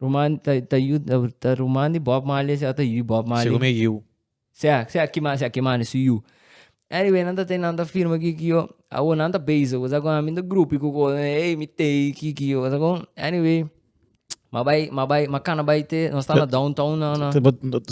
Ruman ta ta yu ta ruman di Bob Marley sea ta yu Bob Marley. Según me yu. Sea sea kima sea kima ni su yu. Anyway nan ta te nan ta firma ki ki yo. Awo nan ta bezig kusai kon ami ta grupi ku ko ey mi tey ki ki yo kusai kon. Anyway ma bai ma bai ma kana bai te nos ta na downtown na na.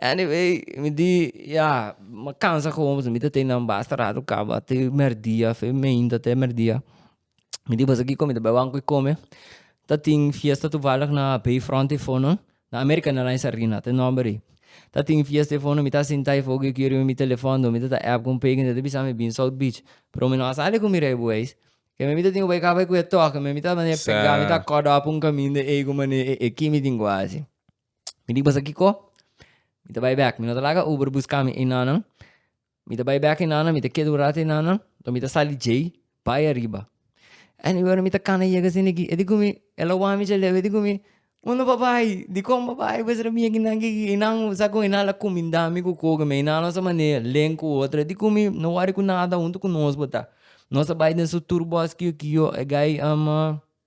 Anyway mi di ya mi cansa como pues mi ta tey nan basta rato caba te merdia fe mainta te merdia mi di pues aki cu mi ta bay banco y come ta tin fiesta toevallig na bay front e fono na america na line sarina te number i ta tin fiesta e fono mi ta sinta e foki oki riba mi telefon dor mi ta ta app con peken ta bisa mi bin south beach pero mi no a sali cu mi rey buey keme mi ta tin cu bay caba cu e toki mi ta mane pega mi ta cut off un camin de ey cu mane e e ki mi tin cu a haci. Mi di boso kiko? Mi ta bai bek, mi no ta laga Uber buska mi ei nannan, mi ta bai bek ei nannan, mi ta keda un rato ei nannan, den mi ta sali djei bai ariba. Anyway ora mi ta kana yega sin aki, e di gumi, e lo wami dje leu, e di gumi, bo no bab bai, dikon bab bai? Bo a ser ami aki nan ke ki, ei nan bo sa kon ei nan a la kuminda mi ku koke mi, ei nan a lo sa manera, len ku otro, e di gumi, no wori ku nada, huntu ku nos bo ta, nos ta bai den su tur bos kio kio, e gai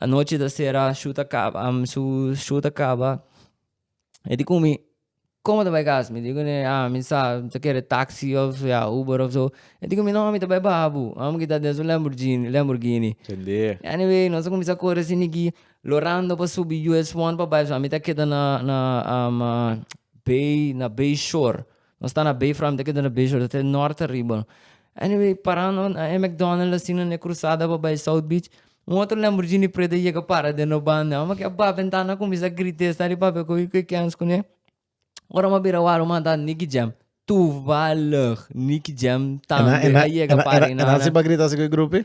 Anochi ta sera, shu ta kaba, mi su shu ta kaba. E di ku mi, Komo ta bai kas? Mi di ku ne, Ah, mi sa, mi ta kere taksi òf ya Uber òf so. E di ku mi, No, mi ta bai baha bu. Amo kita den su Lamborghini, Lamborghini. Entendé. Anyway, nos a kuminsá kore asina aki, lorando pa subi US one pa bai. So a mi ta keda na, na, Bay, na Bay Shore. Nos ta na bay front de keda na bay short te norte ariba. Anyway parando na e mcdonald asina na e crusada pa bay south beach un otro lamborghini preto a yega para den nos banda amba kia ba ventana cuminsa grita esta di papia cu cu kens cune ora mi a bira waro mi a hantar nicky jam toevallig nicky jam tambe a yega para na nan.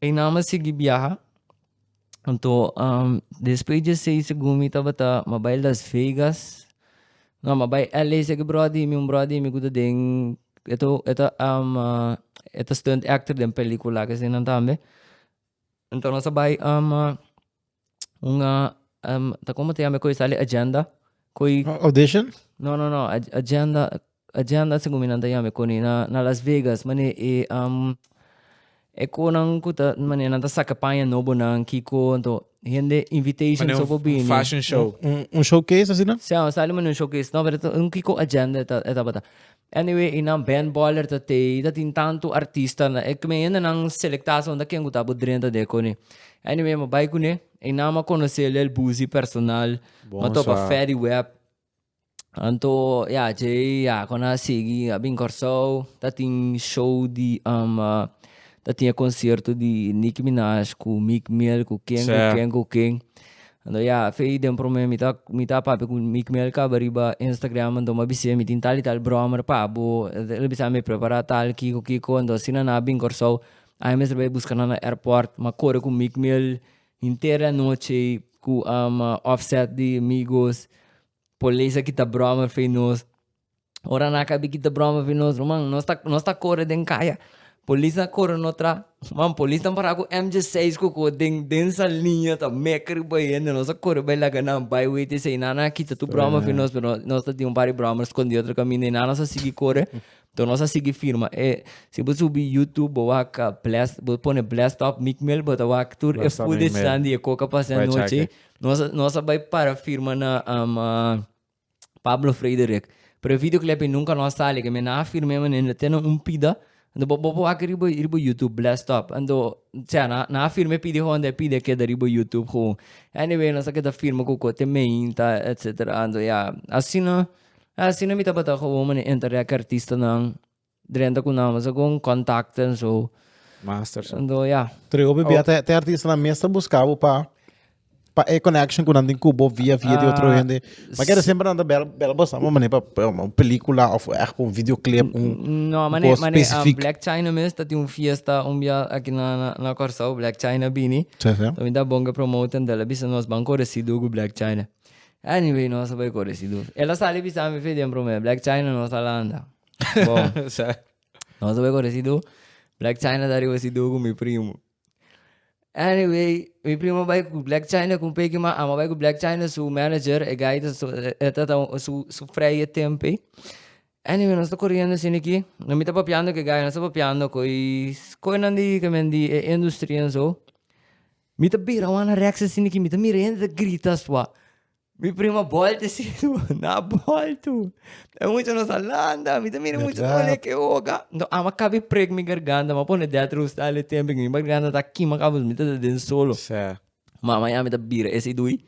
Einan mi sigui biaha. Anto despues dje seis segun mi tabata mi a bai Las Vegas, no mi a bai LA seki bròdi mi, un bròdi mi ku ta den e ta e ta e ta stunt actor den pelikula akesei nan tambe. Anto nos a bai. Un ta como te llama e coi sale agenda coi audition no no no agenda agenda según mi nan ta llama coni na na las vegas mane e um e conan cu ta mane nan ta saca paña nobo nan kico ento hende invitation so por bini fashion show un showcase asina sea sale mane un showcase no pero kico agenda e tabata Anyway i nan band boiler ta tei i ta tin tantu artista na e kmen hende nan selecta so nta ken ku ta bo drenta de ekoni anyway mi a bai kune i nan a conoce lel buzi personal mi a topa fedy web anto ya djei ya con a sigui a bin corsou ta tin show di um ta tin e concierto di Nicki Minaj ku Meek Mill ku ken ku ken ku ken Anto ya fei den prome mi ta mi ta papia ku mi ku mi al kaba riba Instagram anto mi a bisi'e mi tin tal i tal brommer pa bo el a bisa mi prepara tal kiko kiko anto asina nan a bin Kòrsou ai mester bai buska nan na airport mi a kore ku mi ku mi al henter di anochi ku Offset di Migos polis a kita brommer fei nos. Ora nan a kabe kita broma pi nos ruman nos ta nos ta kore den kaya polis a kore no tra man polis ta para ku mg seis koko den den saliña ta meker riba e hende nos a kore bai laga nan bai wei ta esei nan a kita tur broma pi nos pero nos ta tin un par di broma eskondido otro kaminda i nan nos a sigui kore to nos a sigui firma e si bo subi yutup bo wak blèst bo pone blèst stòp mik mel bo ta wak tur e footage nan di e koka pasha anochi nos a nos a bai para firma na Pablo Frederick, Prevido Kleppy nunka no a sali, ke mi a na afir mea manera te na un pida, anto bo bo wak riba riba youtube bless top, anto sea na na afir me pidi hoon de pida keda riba youtube ho, anyway nos a keda firma ku ko te meinta etsetera anto ya asina asina mi tabata gewoon mane entereka artistanan. Drenta cu nan mester con contacta en zo. Master so. Ando ya. Tri hopi bia te, te artista na mes ta busca bo pa pa e connection cu nan tin cubo via via di otro hende. Ma kere siempre nan ta bel bel bo sama mane pa un pelicula of echt un videoclip un No, mane, cos mane, specific. Black China mes ta tin un fiesta un bia aki na na na Corsou Black China bini. Sí, sí. Tambe ta bon ke promote en dele bisa nos ban corre sido cu Black China. Anyway nos a bay corre sido. Ela sali bisa mi fe den prome Black China nos a landa. Bon, nos tabay con residu. Black China ta arriba residu con mi primo. Anyway, mi primo bay cu Black China con peki ma ama bay cu Black China su manager, e guy ta su, e ta ta su, su freie tempe. Anyway, nos ta corriendo asina aki. No mi ta papiando cu e guy, nos ta papiando coi coinan di kimen di e industry en zo. Mi ta bira wan na rex asina aki, mi ta mira e hende ta grita sua. Mi primo bòl te siña na bòl tu. E mucha nos a landa, mi ta mira e mucha ta wòl leke oga. No, a ma kabi prek mi garganta, a ma pone dèter hostal e tempe, mi garganta ta kima kabu mi ta den solo. Mama ya mi ta bira ese i dui,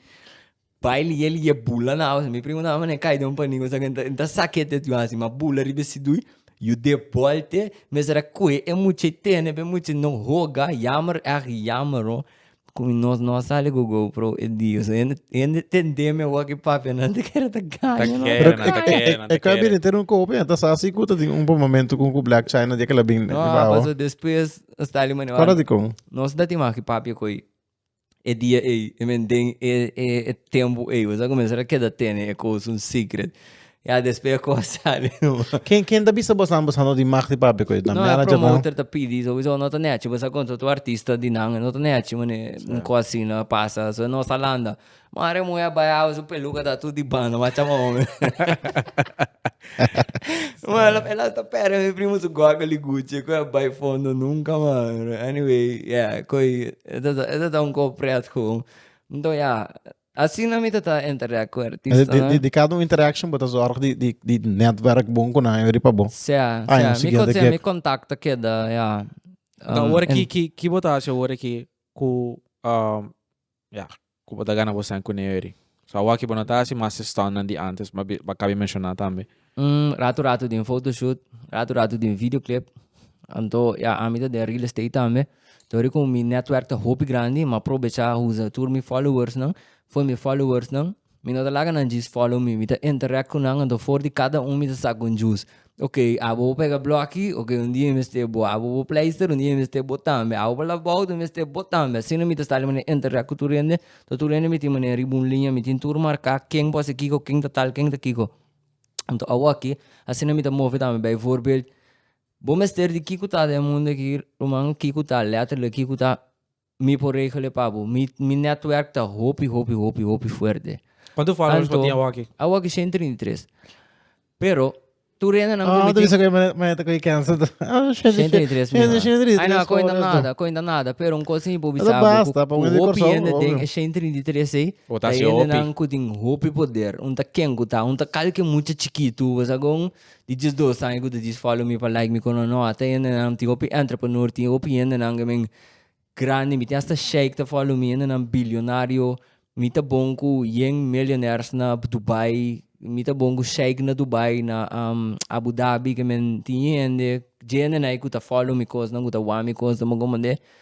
bai lie lie bula na awa, mi primo na awa mane kai den un paniku esa ke i ta sake te tua si, ma bula riba ese dui, yu de bòl te mester a kohe e mucha i tene, pa e mucha no hoga, yammer, erg yammer ho. Komo nos no a sali ku Gou Pro e dia, so hende hende ta entendé awor ku e papianan ta kere ta gaña Ta kere nan, ta kere nan, ta E kere. kabinete no kopi, nan ta sa si ku ta tin un buen momento ku Black China dia kila bin No, a paso despues a stali manera Kora di kon? Nos ta tima ku e papia koi e dia ei, e menten e e tempu ei, bo sa kuminsara keda tene e kos un secret. Ya despues e cosa sali nomás. Ken ken ta bisa bosan bosa no di mag di papia cu e nan manager nan? No e promoter ta pidi sowiso no ta nechi bosa con totu artista di nan no ta nechi mane un cosa asina a pasa so nos a landa mari e muhe a bai habo su peluca ta atu di banda mari a chama ome mari el hasta perde mi primo su gogo di guchi cu a bai fondo nunca mas anyway ya cu e ta un cor pret con anto ya. Asina mi ta ta interact ku artistanan. Di kada un interaction bo ta zorg di netwerk bon ku nan a yuri pa bo. Sea, sea. Mi koto si mi kontak ta keda ya. Ta ora aki ki ki bo ta hasi awor aki ku ya ku bo ta gana bo sain ku nan yuri? So awor aki bo no ta hasi mas estonnan di antes, mabien bo a kabe menshoná tambe. Un ratu ratu den photoshoot, ratu ratu den videoclip. Anto ya ami ta den real estate tambe. Dor ku mi network ta hopi grandi mi a probecha usa tur mi followersnan. For mi followersnan mi no ta laga nan djis follow mi, mi ta interact ku nan anto for di kada un mi ta sak un djus. Ok abo bo pega bloki, ok un dia mi mester bo. Abo bo pleister, un dia mi mester bo tambe. Abo bo lap bout, un dia mi mester bo tambe. Asina mi ta start di manera interact ku tur hende. Tur hende mi tin manera riba un liña, mi tin tur marka ken por hasi kiko, ken ta tal, ken ta kiko. Anto awaki asina mi ta move tambe bay voorbeeld bo mester di kico ta den mundo aki ruman kico ta letterlijk kico ta mi por regele pa bo mi mi netwerk ta hopi hopi hopi hopi fuerte Quanto followers por tin awaki? Awaki 133 pero tur rende nan Oh, tu bisa que me me te coi cancel. Oh, 133 mi man. 133. Ay na cointa nada, cointa nada, pero un cosa mi por bisa bo basta, pa un hopi hende den e 133 ei Ta hendenan ku tin hopi poder. Un ta ken ku ta, un ta kalke mucha chikitu. Bo sa kon di dies dos aña ku ta disi fòlo mi pa like mi kono? No, a ta hendenan, mi tin hopi entreprenor, tin hopi hendenan ke men grandi, mi tin hasta sheik ta fòlo mi, hendenan bilionario. Mi ta bon ku yen millionaires na Dubai, mi ta bon ku sheik na Dubai, na Abu Dhabi, ke men tin hende, dje hende na ei ku ta fòlo mi kosnan, ku ta wak mi kosnan. Bo komo nde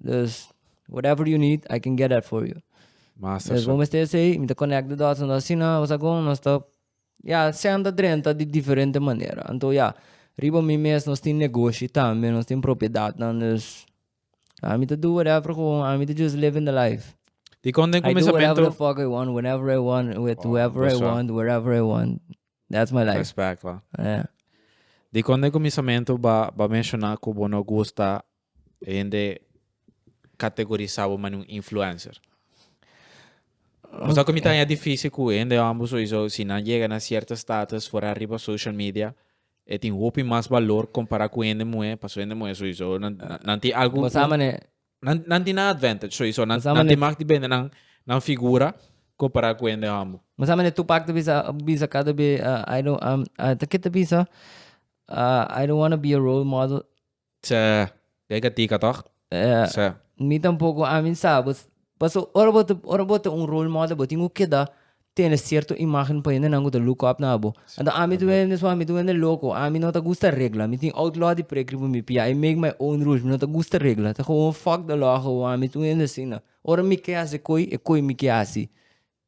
Dus whatever you need I can get that for you. Masa dus bo mester esei mi ta connect the dots anto asina bo sa con nos ta ya senta drenta di diferente manera anto ya riba mi mes nos tin negoshi tambe nos tin propiedadnan dus ami ta do whatever gewoon ami ta just living the life Di con den I do whatever the comenzamento? fuck I want whenever I want with Wow, whoever I bes wel. want wherever I want that's my life Respect, pa. yeah. Di con den comenzamento ba ba menciona cu bo no gusta E hende categorisa bo mani un influencer. Bo sa cu mi ta haña dificil cu e hende hombru sowieso si nan yega na cierto status for ariba social media e tin hopi mas balor compara cu hende muher pasobra hende muher sowieso nan nan tin algu Bo sa mane. nan nan tin nan advantage sowieso nan Bo sa nan mane. tin mag di bende nan nan figura compara cu hende hombru. Bo sa mane Tupac ta bisa bisa cada be I don't am ta ke ta bisa I don't wanna be a role model. Sè, dje ka tika tòg? Sè. Mi tampoko, ami sa. Paso ora bo ta ora bo ta un role model bo tin ku keda tene sierto imágen pa hendenan ku ta look up na bo. Anto ami ta wende mesua mi ta wende loko, ami no ta gusta regla, mi tin outlaw di prekri pa mi pia I make my own rules, mi no ta gusta regla, ta gewoon fuck de law, gewoon ami ta wende asina. Ora mi ke hasi koe, e koe mi ke hasi.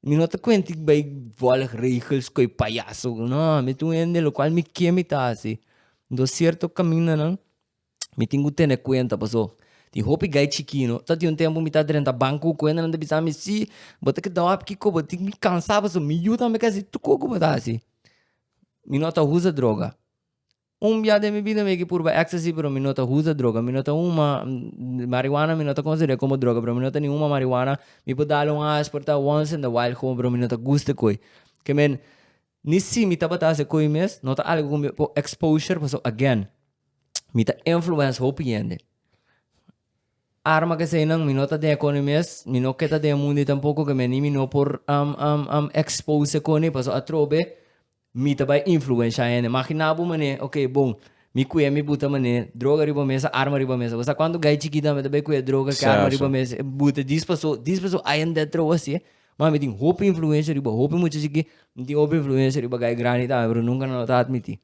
Mi no ta kuente di bai volg regels koe payaso no mi ta un hende lo kual mi ke mi ta hasi do sierto kamindanan mi tin ku tene kuenta paso tin hopi gai chikino ta tin un tempo mi ta drenta banko ku kuendanan ta bisami si bo ta keda hopi kiko bo tin mi kansa paso mi yu tambe kasi tuko ku bo ta hasi mi no ta usa droga. Un bia den mi bida mi a ke purba ecstasy pero mi no ta usa droga, mi no ta huma marihuana mi no ta considera como droga pero mi no ta ni huma marihuana, mi por dale un aas por ta once in the while como pero mi no ta gusta koe, ke men ni si mi tabata haci koe mes no ta algo ku mi por exposure pasobra again mi ta influence hopi hende, arma kesey nan mi no ta den e kone mes, mi no ke ta den e mundo ey tampoco ke men ni mi no por expose e kone pasobra atrobe Mi ta bai influensha hende. Magina bo manera, ok, bon, mi kuye mi buta manera, droga riba mesa, arma riba mesa. Bo sa kuantu gai chikit nan mi ta bai kuye droga ku arma riba mesa, e buta dis paso, dis paso, ai en det trou asi. Ma mi tin hopi influensha riba hopi mucha chikit, mi tin hopi influensha riba gai grandi tambe, pero nunka nan lo ta admiti.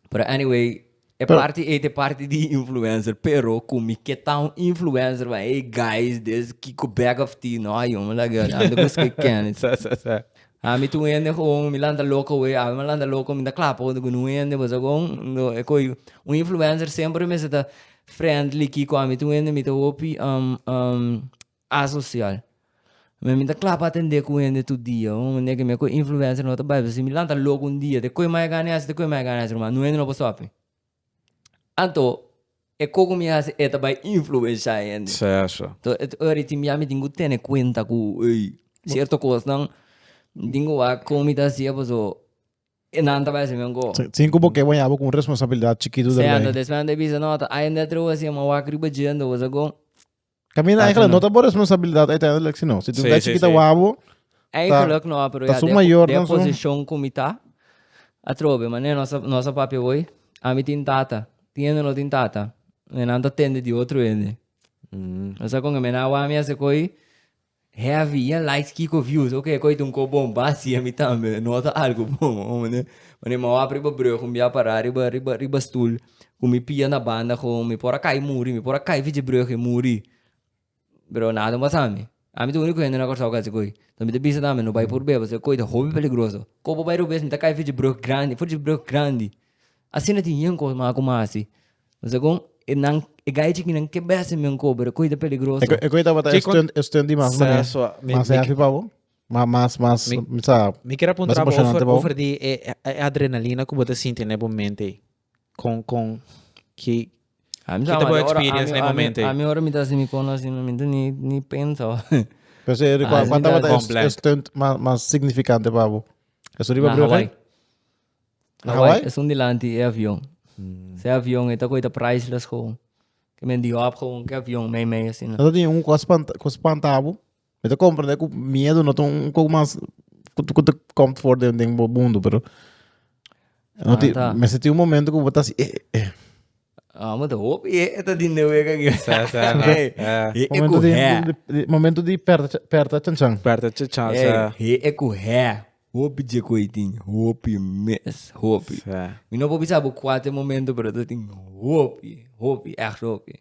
Pero anyway, e Pero- party ey te party di influencer, pero cu mi ke ta un influencer van ey guys des Kiko bag of tea, no ay hombre la guy, ando cus ke Kenneth. Sa, sa, sa. A mi tu un hende gewoon, mi lanta loco wey, a mi lanta loco, mi ta cla pa cu un hende pasobra gewoon, no, e coi, un influencer semper mester ta friendly, Kiko, a mi tu un hende mi ta hopi, um, um, Asocial. Mi ami ta cla pa atende cu hende tur dia, un manera que mi a coge influencia no ta bai, pasobra si mi lanta loco un dia te coge mai a gana haci, te coge mai a gana haci ruma, nu hende no por sofe. Anto e coco mi a haci e ta bai influencia e hende. Certo. To e ora y tin bia mi tin cu tene cuenta cu ey, cierto cosnan mi tin cu wak con mi ta hacia paso e nan ta bai haci mi un go. Sin cu bo ke waya bo cu un responsabilidad chikitu derbij. Certo, despues nan ta bisa no, ta hende atreve haci, a wak riba dje anto, cosa cu. Camina, eigenlijk no ta bo responsabilidad uiteindelijk, sino. Si tu Sí, ves sí, que ta sí. wabo, Eigenlijk no, ah, pero ta ya su de, mayor, de dan su- position cu mi ta, atrobe, mane nos a, nos a papia hoy, a mi tin tata, tiende o no tin tata, e nan ta tende di otro hende. Nos a con e mena wami a se coi, Heavy ya likes kiko views ok koy ta un ko bon ba si ami tambe nota algo bon ho mane mane ma wap riba brug un bia para riba riba riba stoel ku mi pia na banda kon mi por a kai muri mi por a kai fitje brug e muri pero nada un basa mi ami ta uniko hende na Kòrsou ku hasi koy so mi ta bisa tambe no bai purbé paske koy ta hopi peligroso kobo bai robes mi ta kai fitje brug grandi fitje brug grandi asina tin yen kos ma ku mi a hasi Lo segun e nan e gai chiki nan ke bes men kober koi ta peligroso. E koi tabata e stunt e stunt di mas sa, mane. So, mi, mas heavy pa bo. Mas mas mas mi, sa, mi kira puntra mas emocionante over, pa bo. Over di e, e adrenalina ku bo ta sinti ne bo mente ei. Kon kon ki A mi sa mane ora experience ne momento ei. A mi ora mi ta hasi mi kono asi mi ta ni ni pensa. Pero si e kua tabata e stunt mas mas significante pa bo. Esun riba Brugge? Hawaii? Esun di lanti e avion. Se avion e ta koita priceless gewoon. Ke men di hop gewoon ke avion mei mei asina. Ata tin un kos spanta, kos spantabo. Me te comprende ku miedo no te un kok mas ku te ku te komt for den den bo mundo, pero no ti Ata. me se tin un momento ku bo ta si eh eh. Ah, mo te hopi e e ta din de wega aki. Sa, sa, na. Hey, Eh, he e Momento ku di, he. di- di- momento di perta perta chanchan. Berta Chichan, Hey, sa. he e ku he. Hopi dje cu ey tin, hopi mes, hopi. Sa. Mi no por bisa bo cua ta e momento, pero ta tin hopi, hopi, echt hopi.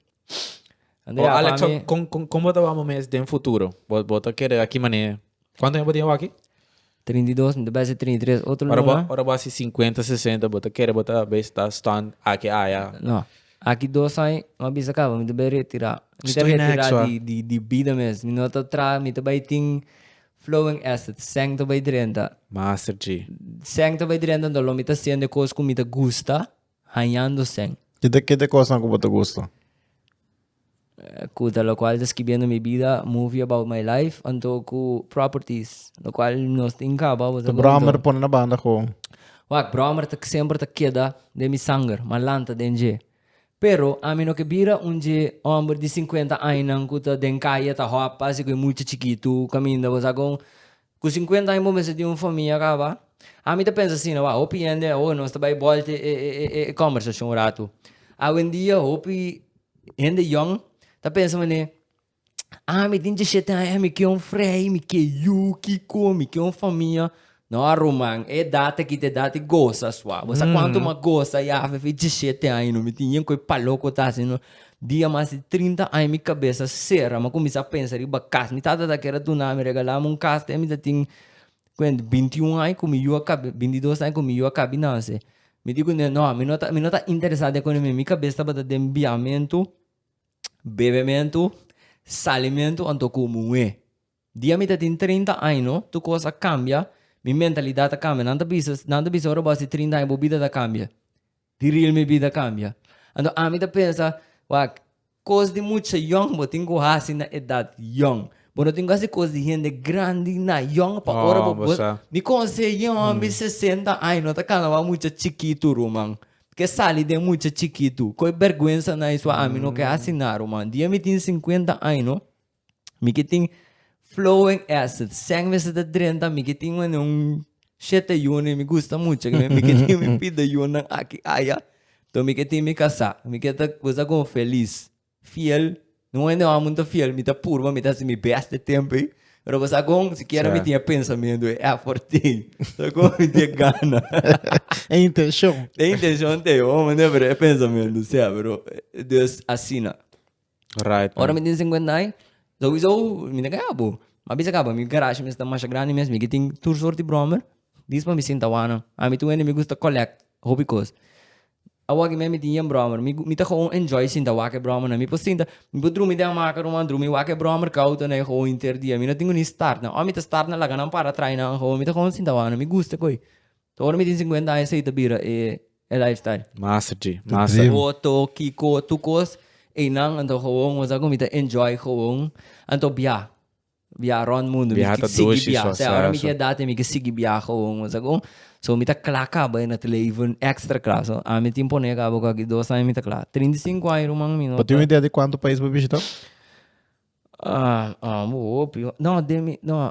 Anda Oh, ya, Alex, pa so, mi, con, con, con bo ta wou bo mes den futuro? Bo, bo ta kere a ki manera? Cuanto aña bo tin awaki? 32, mi ta bese 33, otro Ora bo, luna. ora bo a haci cincuenta, sesenta, bo ta kere bo ta be sta stunned aki aya? No. Aki dos aña, mi a bisa caba, mi ta be retira. Mi ta Stoy next, retira wa. di, di, di bida mes. Mi no ta traha, mi ta bay tin Flowing acid, sèn ta bai drenta. Master G. Sèn ta bai drenta anto lo mi ta siente kos ku mi ta gusta hañando sèn. Kite kite kosnan ku bo ta gusta? Kuta lokual ta skibiendo mi bida, movie about my life, anto ku properties lokual nos tin kaba. Bo ta gusto? Brommer pone na banda kon. Wak, brommer ta semper ta keda den mi sanger, ma lanta den dje. Pero ami no ke bira un dje hòmber di sinkuenta añanan ku ta den kaye ta hòpa si ku e mucha chikitu kaminda. Bo sa kon ku sinkuenta aña bo mester tin un famia kaba? Ami ta pensa asina, wak, hopi hende awo nos ta bai bòlt e kòmbersashon un ratu. Awendia hopi hende yòn ta pensa manera, Ah, mi tin djishete aña, mi ke un frei, mi ke yu, kiko, mi ke un famia. No, ruman, e edat aki ta e edat di gosa sua. Bo sa kuantu mi a gosa ya afe djishete aña, no? Mi tin yen ku e palo ku ta hasi, no. Dia mas di trinta aña mi kabesa sera, mi a kuminsá pensa riba kas. Mi tata ta kere duna mi, regala mi un kas te mi ta tin, kuent, binti un aña ku mi yu a kabe, binti dos aña ku mi yu a kabe nase. Mi di ku mi, no, mi no ta, mi no ta interesá den kuné mi. Mi kabes tabata den biamentu. Bebementu, salimentu anto ku muhé. Di ami ta tin trinta año, tur kos a kambia, mi mentalidat a kambia. Nan ta bisa, nan ta bisa ora bo a hasi trinta año bo bida ta kambia? Di real mi bida kambia. Anto ami ta pensa, wak, kos di mucha yòn bo tin ku hasi na edat yòn. Bo no tin ku hasi kos di hende grandi na yòn pa ora bo. Mi konseh'é, mi sesenta año no ta kalabá mucha chikitu, ruman. Ke sali den mucha chikitu. Koe berguensa na isua ami no ke hasi naro man. Dia mi tin sinkuenta año no mi ke tin flowing acid. Seng mester ta drenta mi ke tin mane un shete yunan y mi gusta mucha ke mi ke tin mi pida yunan aki aya. To mi ke tin mi kasa mi ke ta goza kon felis. Fiel, no hende wou amun ta fiel, mi ta purba, mi ta hasi mi bèst e tempu ei. Pero bo sa kon? Sikiera mi tin e pensamentu, e èfòrt ei, sa kon mi tin e gana. E intenshon. E intenshon te, bo manda pero e pensamentu sea, pero dus asina. Right. Ora mi tin sinkuenta ai, souiso mi ta kaya bo. Ma bisa kaba, mi garashi mester ta masha grandi mes, mi ke tin tur sòrt di bròmer, dis pa mi sinta wou nan. Ami tu hende mi gusta collect hopi kos. Awor ki mi a miti yen brommer mi mi ta gewoon enjoy sinta wak e brommer nan mi por sinta mi por drumi den hamaca ruma a drumi wak e brommer cauto nan e gewoon inter dia mi no tin gunis start nan ora mi ta start nan laga nan para traai nan gewoon mi ta gewoon sinta wak nan mi gusta cu ey ta ora mi tin cincuenta aña esey ta bira e e life style. Massa G massa. Otto, Kiko, tu cos ey nan anto gewoon wasa cu mi ta enjoy gewoon anto bia. Biaha rond mundu. Biaha ta dushi so asá. Ora mi tin edat mi ke sigui biaha gewoon mos ago. So mi ta kla kaba e nat leven extra kla. So ami tin pone kaba ku aki dos aña mi ta kla. Trinta i sinku aña ruman mi no ta. Pa tin un idea di kuantu pais bo bishita? Bo hopi ho. No den mi no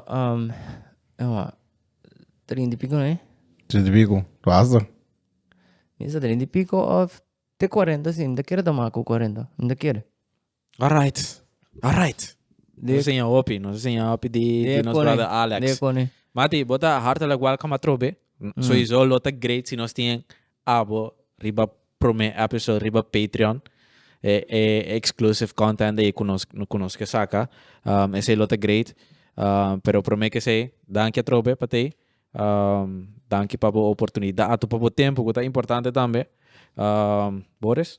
trinta i piko no e? Trinta i piko. Lo hasta. Mi sa trinta i piko of te kuarenta si. Mi ta kere ta mas ku kuarenta. Mi ta kere. Alright, alright. Nos seña hopi, nos seña hopi di, di nos brother Alex. De kone. Mati, bo ta hartelijk welcome atrobe. Sowieso lo ta great si nos tin abo riba prome episode riba Patreon. E e exclusive content ei ku nos ku nos ke saka. Um esei lo ta great. Um pero prome ke sei, danki atrobe pa tei. Um danki pa bo oportunidato, pa bo tempu ku ta importante tambe. Um Boris?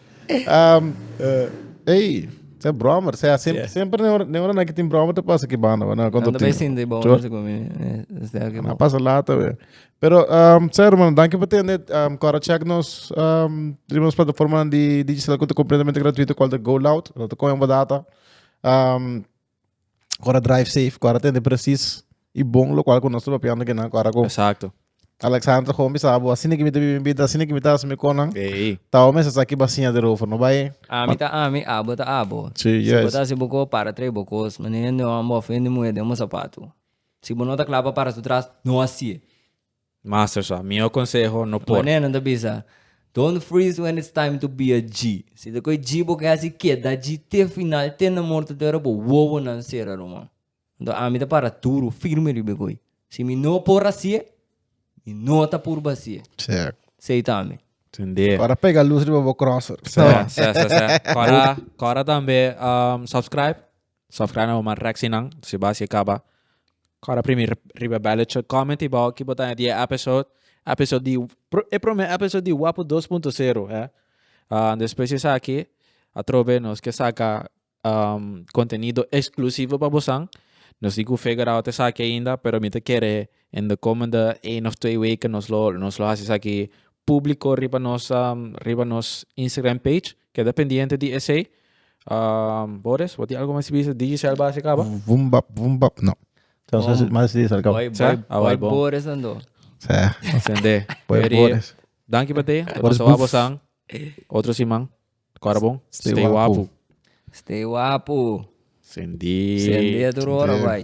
Ey, sey brommer. Sey así, Yeah. siempre never, never na que tin brommer te pasa que banda, ¿verdad? Cuando Ando tin. bij sin de bomen Sure. se comi. Is daar que Na pasa later weer. Pero, um, sey hermano, dank je voor het net. Um, Cora check nos, um, de nos plataforma di digicel que te completamente gratuito, cual de Go Loud. Dat te cogen voor data. Um, Cora drive safe, cora tende precies y bon lo cual con nosotros papiando que na cora con Exacto. Alexander gewoon bisa bo así ni que mi te vive vida así ni que mi te hace mi conan. Hey. Tao mesa saki basinha de rover no bae. Ami ta ami, abo ta abo. Sí, Si bo yes. ta hasi bo cos, para trae bo cos. Manera no ambo ofende muhe den bo zapato. Si bo no ta cla pa para su tras, no haci'e. Master sa, mihó konseho no por. Manera nan ta bisa, Don't freeze when it's time to be a G. Si ta koe G bo ke hasi keda G te final, te na morto te ora bo wowonan sera ruman. Anto ami ta para duru, firme riba e goi. Si mi no por hasié, mi no ta purba hasié. Sek. Sei ta ami. Tindé. Kora pega lus riba bo crosser. Sa, sa, sa, sa. Kora, kora tambe um, subscribe. Sofrana bo man reksi nan si bas e kaba kora primi riba bellot show commenty baho ki bo ta di e episode episode di e prome episode di wapu dos punto sero he despues esaki atrobe nos ke saka contenido exclusivo pa bosan nos di cu figure out esaki ainda pero mi ta kere in de komende ein of twee weken nos lo nos lo hasi esaki publico riba nos riba nos Instagram page. Keda pendiente di esey. Boris, bo tin algo mas di bisa? Digicel basi kaba? Vum bap vum bap no. Tem sa si mas di sa kaba. Boy Sa? boy Awai, boy bon. Boris nan do. Sa. Sende. Boy Eri, Boris. Danki pa teye. Boris Nos a Booth. wabosan otro siman. Kora bon. Stay Stay wapu. wapu. Stay wapu. Sende. Sende tur ora Sende. bai.